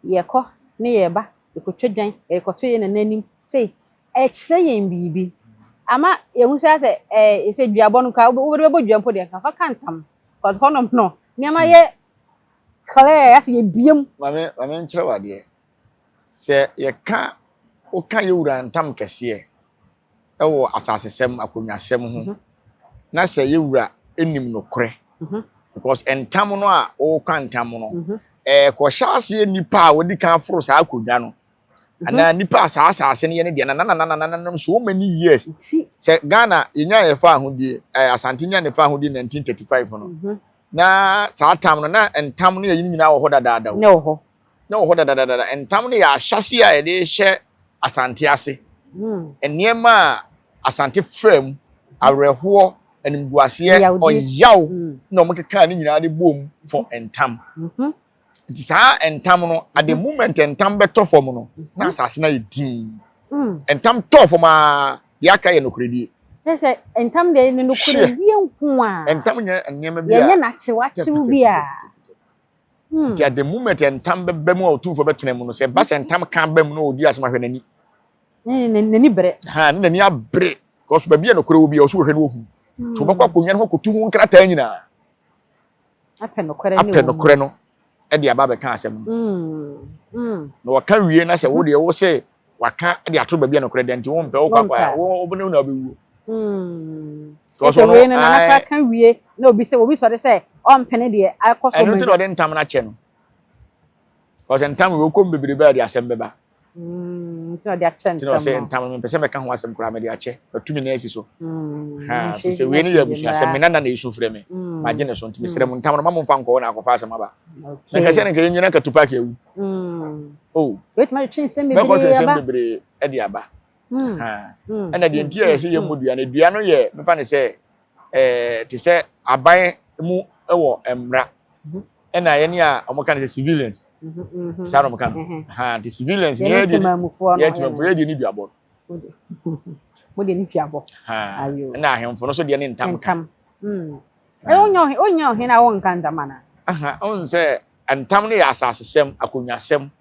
yɛkɔ ne yɛba yɛkɔtwa dwan yɛkɔto yɛ nana anim sei Ɛkyerɛ yɛn biribi. Ama yɛhu sɛ sɛ ɛɛ sɛ duabɔ no ka wode bɛbɔ dua mpo deɛ nka fa ka ntam because hɔnom no nneɛma yɛ clear asɛ yɛbiem. Maame maame nkyerɛ wadeɛ sɛ yɛka woka yɛ wura ntam kɛseɛ ɛwɔ asasesɛm akonnwasɛm ho mhm. na sɛ yɛ wura ɛnim nokorɛ mhm. because ntam no a woka ntam no mhm. ɛɛ kɔhyɛ aseɛ nipa a wɔdi kan foro saa akonnwa no Mhm. anaa nipa a saa asase no yɛ ne deɛ na nanananananom so many years Nti, sɛ ghana yɛnya yɛfa ahodie eh, asante nya ne fa ahodie 1935 no mhm, na saa tam no na ntam no yɛyi no nyinaa wɔ hɔ dadaada o ne wɔ hɔ. na wɔ hɔ dadadadada ntam no yɛ ahyɛse a yɛde hyɛ asante ase Mm. nneɛma a asante fra mu awerɛhoɔ animguaseɛ Yawdeɛ. ɔyaw Mm, na wɔkekaa ne nyinaa de bɔɔ mu fɔ ntam mhm, Nti saa ntam no, at the moment ntam bɛtɔ fam no, na asase no ayɛ dinn. Mm. Ntam tɔɔ fam a, deɛ aka yɛ nokorɛdie. Kyerɛ sɛ ntam deɛ ne nokorɛdie nko a. Ntam nyɛ nneɛma bi a. Yɛnyɛ n'akyewakyew bi a. Hmm. Nti at the moment ntam bɛba mu a ɔtumfoɔ bɛtena mu no, sɛ ɛba sɛ ntam ka ba mu na ɔdi asɛm ahwɛ n'ani. N'ani bere. Ha, ne n'ani abere. Because baabi a nokorɛ wɔ bi a, ɔso wɔhwɛ no wɔhu. Hmm. So wɔbɛkɔ akonnwa no hɔ akɔtu ho nkrataa nyinaa. apɛ nokorɛ no de aba bɛka asɛm no mm, mm. na wɔka wie na sɛ wo deɛ wo sɛ waka de ato baabi a nokorɛ dɛ nti wompɛ wo kwakwa wobɛne wo na wobɛwuo mm. wei no nanakra ka wie na obi sɛ obi sɔre sɛ ɔmpene deɛ akɔ so ɛno nti na ɔde ntam no akyɛ no ɔsɛ ntam wei wokɔm bebrebe a de asɛm bɛba Mm, nti ɔde akyɛ ntam. Nti ɔsɛ ntam no mpɛsɛ mɛka ho asɛm koraa mɛde akyɛ atumi na asi so. Mm, ha fi sɛ wei ne yɛ abusua sɛ me nana na ɛsu frɛ me mm. magye ne so nti mesrɛ mu mm. ntam no ma momfa nkɔɔ na akɔfa asɛm aba. Na nka sɛ ne nka yɛnwina katu paaki awu. Oh. Wetumi atwe nsɛm bebree aba. Bɛkɔ twe nsɛm bebree de aba. Ɛna deɛ nti a yɛsɛ yɛmmɔ dua no dua no yɛ mefa ne sɛ te sɛ aban mu wɔ mmara ɛna yɛne a wɔn ka no sɛ civilians saa na wɔn ka no ha the civilians yɛne temamufoɔ yɛne temamufoɔ yɛ deɛ ne duabɔ mo deɛ ne duabɔ ayo ɛna ahemfo no so deɛ ne ntam ntam ɛyɛ onya ɔhen onya ɔhen a wɔn nka ntam ana aha ɔn sɛ ntam no yɛ asasesɛm akonnwasɛm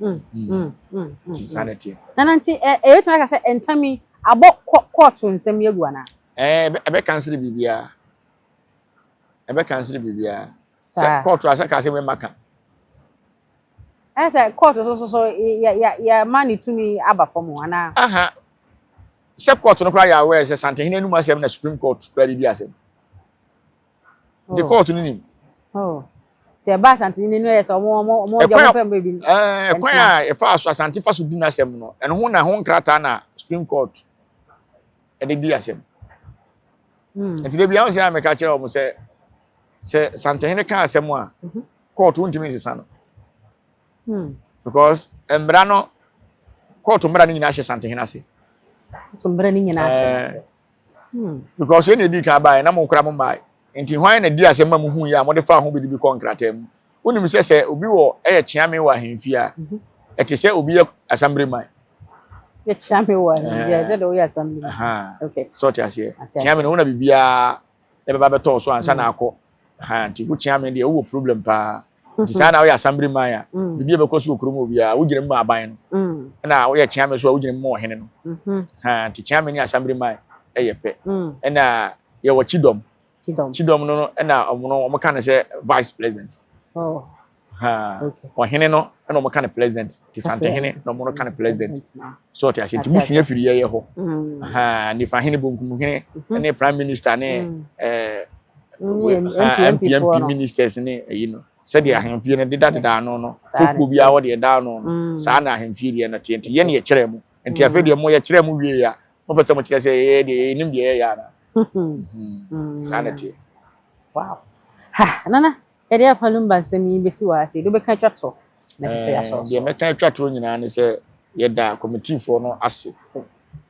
Mm, mm, mm, mm, mm. Ti saa na ɛteɛ. na na nti ɛ ɛbɛtumi aka sɛ ntam yi abɔ kɔ kɔɔto nsɛm yi agu anaa ɛɛ ɛbɛ- ɛbɛkansere biribiara ɛbɛkansere biribiara sɛ saa kɔɔto asɛ kaa sɛ mɛma ka ɛyɛ sɛ kɔɔto so so so yɛ- yɛ- yɛ- yɛma ne tumi aba fam o, anaa aha sɛ kɔɔto no koraa yɛ aware sɛ santehene anum asɛm na supreme court koraa de di asɛm Gye oh. kɔɔto no nim. Oh. Ti ɛba asante ni nenu ɛyɛ sɛ ɔmo ɔmo ɔmo ɔdi ɔmo pɛm bɛbi. Ɛɛ eh, kwan a ɛfa so asante fa so di n'asɛm no ɛno ho na ho nkrataa na supreme court ɛde di asɛm. Hmm. Nti de bi ahun sɛ a mɛka kyerɛ ɔmo sɛ sɛ santehene ka asɛm a mhm. court ntumi nsesa no. Hmm. Because mmara no court mmara no nyinaa hyɛ santehene ase. Court mmara no nyinaa hyɛ eh, ase. Because yɛn na edi kan baeɛ na mo koraa mommae. Enti hwan na dii asɛm ma muhuiɛ a mode faa ho biribi kɔɔ nkrataa mu? Wonim sɛ sɛ obi wɔ yɛ kyea me wɔ ahemfie a, ɛte sɛ obi yɛ assembly man. Yɛkyea me wɔ ahemfie a, ɛte sɛ deɛ woyɛ assembly man. Sɛ ɔte aseɛ? Kyea me no, wo na biribiara bɛba bɛtɔ wo so ansa na akɔ. Nti wokyea me deɛ, wowɔ problem paa. nti saa na woyɛ asambere man a biribi a ɛbɛkɔ so wɔ kurom obiara wogyina mu ma aban no ɛna woyɛ kyeame so a wogyina mu ma ɔhene no nti kyeame ne asambere man ɛyɛ pɛ ɛna yɛwɔ kyidɔm kyidɔm no ɛna ɔmo no ɔmo ka no sɛ vice president ɔhene no ɛna ɔmo ka no president nti santehene na ɔmo no ka no president so ɔte ase nti mu sua firi yɛyɛ hɔ mm. nifa hene bonkum hene mhm. ne prime minister ne mm. eh, mpmp ministers ne ɛyi no sɛdeɛ mm. ahemfie no deda deda ano no fokuo biara wɔde ɛda ano no saa na ahemfie deɛ no teɛ nti yɛne yɛkyerɛ mu nti afei deɛ mo yɛkyerɛ mu wie a mopɛ sɛ mokyerɛ sɛ yɛyɛ deɛ yɛnim deɛ yɛyɛ ana mhm. saa na teɛ nana yɛde apalumba nsɛm yi bɛsi wɔ ase yɛde wobɛka twa tɔ deɛ mɛka atwa toɔ nyinaa ne sɛ yɛda kɔmitifoɔ no ase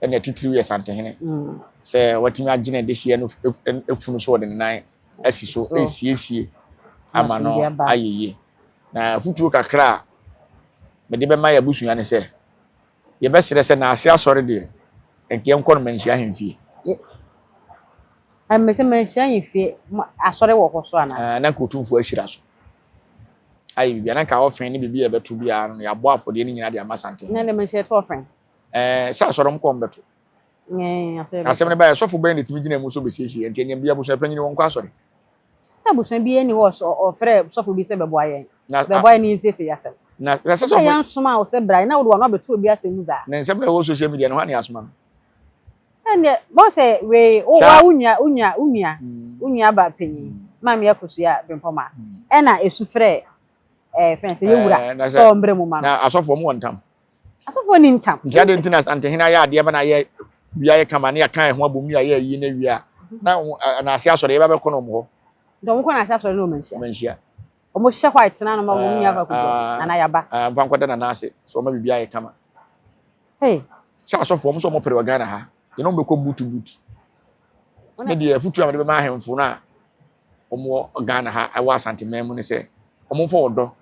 ɛna titiriw yɛ santehene mm. sɛ watumi agyina adehyeɛ no efunu so ɔde ne nan asi so esiesie ama no ayɛ yie na afutuo kakra a mede bɛma yɛ abusua ne sɛ yɛbɛsrɛ sɛ naase asɔre deɛ nkeɛ nkɔ no manhyia ahemfie mmesɛ manhyia ahemfie asɔre wɔ hɔ so anaa na nka ɔtumfoɔ ahyira so ayɛ biribi a na nka ɔfɛn ne biribi a ɛbɛto biara no yɛabɔ afɔdeɛ no nyinaa de ama santehene. Na dɛm nso yɛto ɔfɛn. Ɛɛ sɛ asɔrɔm kɔm bɛto. Ɛɛ asɔre bɛto. Asɛm no bɛyɛ sɔfo bɛn na ɛtumi gyina mu sɛ ɔbɛsiesie ɛnti ɛnyɛ bia abusua panyin wɔn kɔ asɔre. Sɛ abusua bi ani hɔ sɛ ɔfrɛ sɔfo bi sɛ bɛboa yɛn bɛboa yɛn ne nsiesie asɛm. Na sɛ sɔfo. Yɛn soma wo sɛ bra na wode wɔn abɛto obi asɛm mu saa. Na nsɛm na ɛwɔ social media no hɔ na yɛasoma no. ɛndeɛ bɔ sɛ wei wowa wo nua wo nua wo nua mm. wo nua ba panyin mm. maa mi akosua bempɔma mm. ɛna esu frɛ ɛɛ eh, fɛn sɛ yɛwura eh, sɛ ɔmbrɛ mu ma no. na asɔfoɔ mu wɔ ntam. asɔfoɔ ni ntam. nti adi nti na antehene ayɛ adeɛ bɛ na ayɛ wia yɛ kama ne yɛ kan ɛho abom yɛ ayɛ ayi na wia na na ase asɔre yɛ bɛ bɛ kɔ na ɔmo hɔ. nti ɔmo kɔ na ase asɔre na ɔmo nhyia. ɔmo nhyia. Ɔmo hyɛ hɔ a ɛtena no ma wɔn nyɛ akɔ akɔdwa ah, nana yaba. Ɛɛ ah, nfa nkɔda nana ase so ɔmo bibi ayɛ kama. Hey. Sɛ asɔfo ɔmo sɛ ɔmo pere wɔ Ghana ha yɛn ɔmo bɛkɔ butu butu. Ne deɛ afutu a wɔde bɛma ahemfo no a ɔmo wɔ Ghana ha ɛwɔ Asante man mu ne sɛ ɔmo nfa ɔdɔ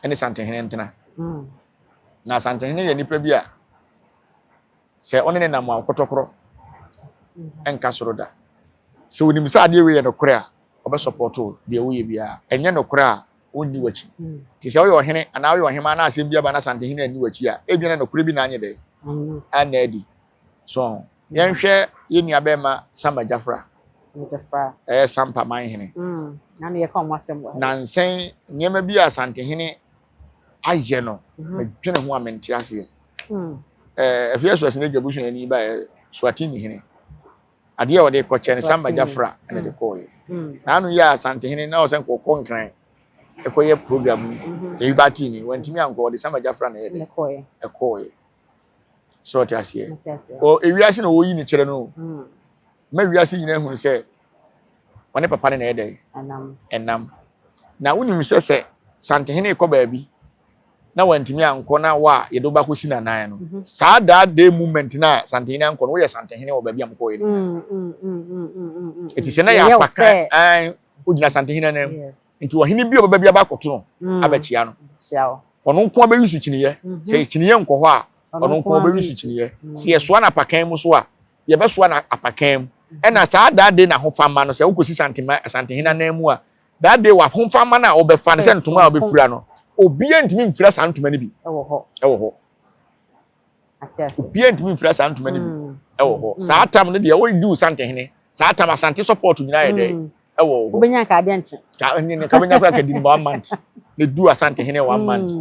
ɛne Santehene ntena. Hmm. Na Santehene yɛ nipa bi a Sɛ ɔne no nam a, ɔkɔtɔkorɔ nka soro da. Sɛ onim sɛ adeɛ wei yɛ nokorɛ a, ɔbɛsɔpɔto deɛ woyɛ biara. Ɛnyɛ nokorɛ a, ɔnni w'akyi. Nti sɛ woyɛ ɔhene anaa woyɛ ɔhemaa na asɛm bi aba na asantehene anni w'akyi a, ebia na nokorɛ bi na anyɛ dɛ anna adi. So ho. Yɛnhwɛ yɛn nua bɛrima Sama Gyafra. Ɛyɛ Sampa manhene. Nansɛn nneɛma bi a asantehene ayɛ no mhm. medwene ho a mente aseɛ hmm. eh, afei ɛso ɛsene adwa busua ani baɛ eh, swatini hene adeɛ a ɔde kɔkyɛ no samba gyafra ɛna de hmm. kɔɔyɛ hmm. na ano yɛ asantehene na ɔsɛ nkɔkɔ nkran ɛkɔyɛ program yi mhm. ɛyi ba tv wantumi ankɔ ɔde samba gyafra na ɛde ɛkɔɔyɛ so ɔte aseɛ wɔ ewiase na wɔyi ne kyerɛ no o mm. ma wiase nyinaa hunu sɛ ɔne papa ne na ɛdɛ ɛnam na wonim sɛ sɛ santehene kɔ baabi na wantumi ankɔ na wa yɛde wo bakɔ si nanan no mhm. saa daa day movement no a santehene ankɔ no woyɛ santehene wɔ baabi a mokɔɛ no ɛti sɛ na yɛ apaka wogyina santehene anam nti ɔhene bi a ɔbɛba bi aba akɔto no mm. abɛkyia no ɔno nko abɛyi so kyiniiɛ mhm. sɛ kyiniiɛ nkɔ hɔ a ɔno nko abɛyi so kyiniiɛ mm. sɛ yɛsoa no apakan mu so a yɛbɛsoa no apakan mu mhm. ɛna saa daa de n'ahofama no sɛ wokɔsi santema santehene anan mu a daa de w'ahofama no a wɔbɛfa no sɛ ntoma a wɔbɛfira no obiara ntumi mfira saa ntoma no bi ɛwɔ hɔ obiara ntumi mfira saa ntoma no bi mm. ɛwɔ hɔ mm. saa tam no deɛ wɔdi wo santehene saa tam asante support nyinaa yɛ dɛ mm. ɛwɔ hɔ wobɛnya ka adeɛ nkye ka nyine ka bɛnya kora kadi no one month na du asantehene one month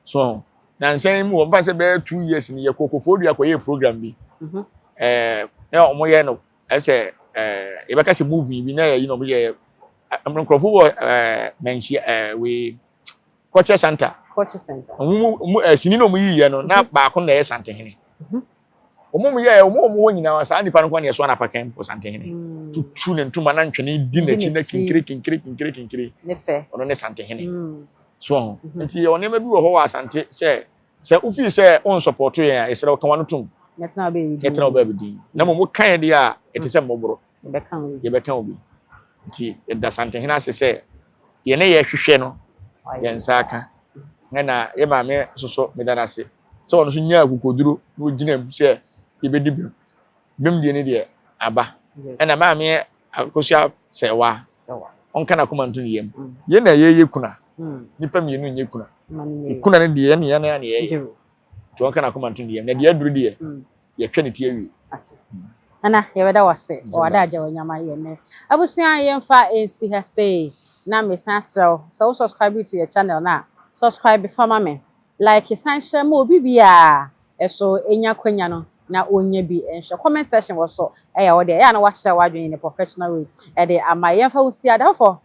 so na nsɛn mu wɔn fa sɛ bɛyɛ two years ni yɛ kokofo dua kɔyɛ program bi mhm. ɛɛ na wɔn yɛ no ɛsɛ ɛɛ yɛbɛka sɛ movie bi na yɛ yi na wɔn yɛ nkurɔfo wɔ ɛɛ mɛnhyia ɛɛ wei. Culture Center. Culture Center. Wɔn mu mu eh, sini na wɔn yi yɛ no na mhm. baako na ɛyɛ Santehene. Mhm. Wɔn mu yɛ wɔn wɔn wɔ nyinaa saa nipa no kwan na yɛ so anapa kan fo Santehene. Mm. Tutu ne ntoma na ntwene di n'akyi na kinkiri kinkiri kinkiri kinkiri. Ne fɛ. Ɔno ne Santehene. Mm. So ɔho. Mhm. Nti yɛ wɔn nneɛma bi wɔ hɔ wɔ Asante sɛ sɛ wofi sɛ wɔn nsɔpɔtɔ yɛn a yɛsrɛ wɔka wɔn no tom. Yɛtena ɔbɛ bi din. Yɛtena ɔbɛ bi din. Na mo mo kan yɛ deɛ a ɛte sɛ mmɔborɔ. Yɛbɛka obi. Yɛbɛka obi. Nti ɛda Santehene ase sɛ Yɛn a yɛhwehwɛ no, yɛn nsa aka. Ɛna yɛn maame nso so, meda no ase sɛ ɔno nso nyaa akokoduro na ɔgyina mu sɛ yɛbɛdi bem. Bem deɛ ne deɛ aba. Ɛna maame akosua sɛ wa, ɔnka n'akoma nto ne yam. Mm. Yɛn na yɛyɛ kuna. Mm. Nipa mmienu nyɛ kuna. Kuna no deɛ yɛn na yɛn na yɛyɛ. Nti ɔnka n'akoma nto ne yam. Na deɛ aduru deɛ, mm. yɛtwa ne ti awie. Ate. Nana, yɛbɛda wo ase wɔ w'ade agya w'anyama yɛ nnɛ. Abusua yɛmfa nsi ha sei, na mesan asrɛ wo sɛ wo subscribe to yɛ channel no a, subscribe fa ma me, like san hyɛ ma obi biara nso nya akwanya no na ɔnya bi nhwɛ. Comment section wɔ so, ɛyɛ wo dɛ. Ɛyɛ a na woakyerɛ w'adwene in a professional way de ama yɛn. Yɛmfa wo nsi ha, Dafo,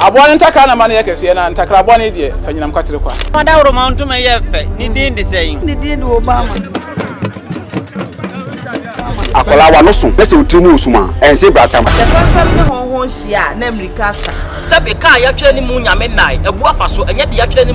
Aboa no ntakra na ma no yɛ kɛseɛ, na ntakra bɔne deɛ, fa nyinam kwatere kwa. Fa dawuroma ntoma yɛ fɛ, ne din de sɛn? Ne din de Obama. Akwadaa a w'ano so na sɛ wo tiri mu resum a, ɛnsɛ bratam. Sɛ fɛmfɛm ne hɔnhɔn hyia a, na mmirika sa. Sɛbe ka a yɛatwerɛ ne mu Nyame nnae, abu afa so, ɛnyɛ deɛ yɛatwerɛ ne mu.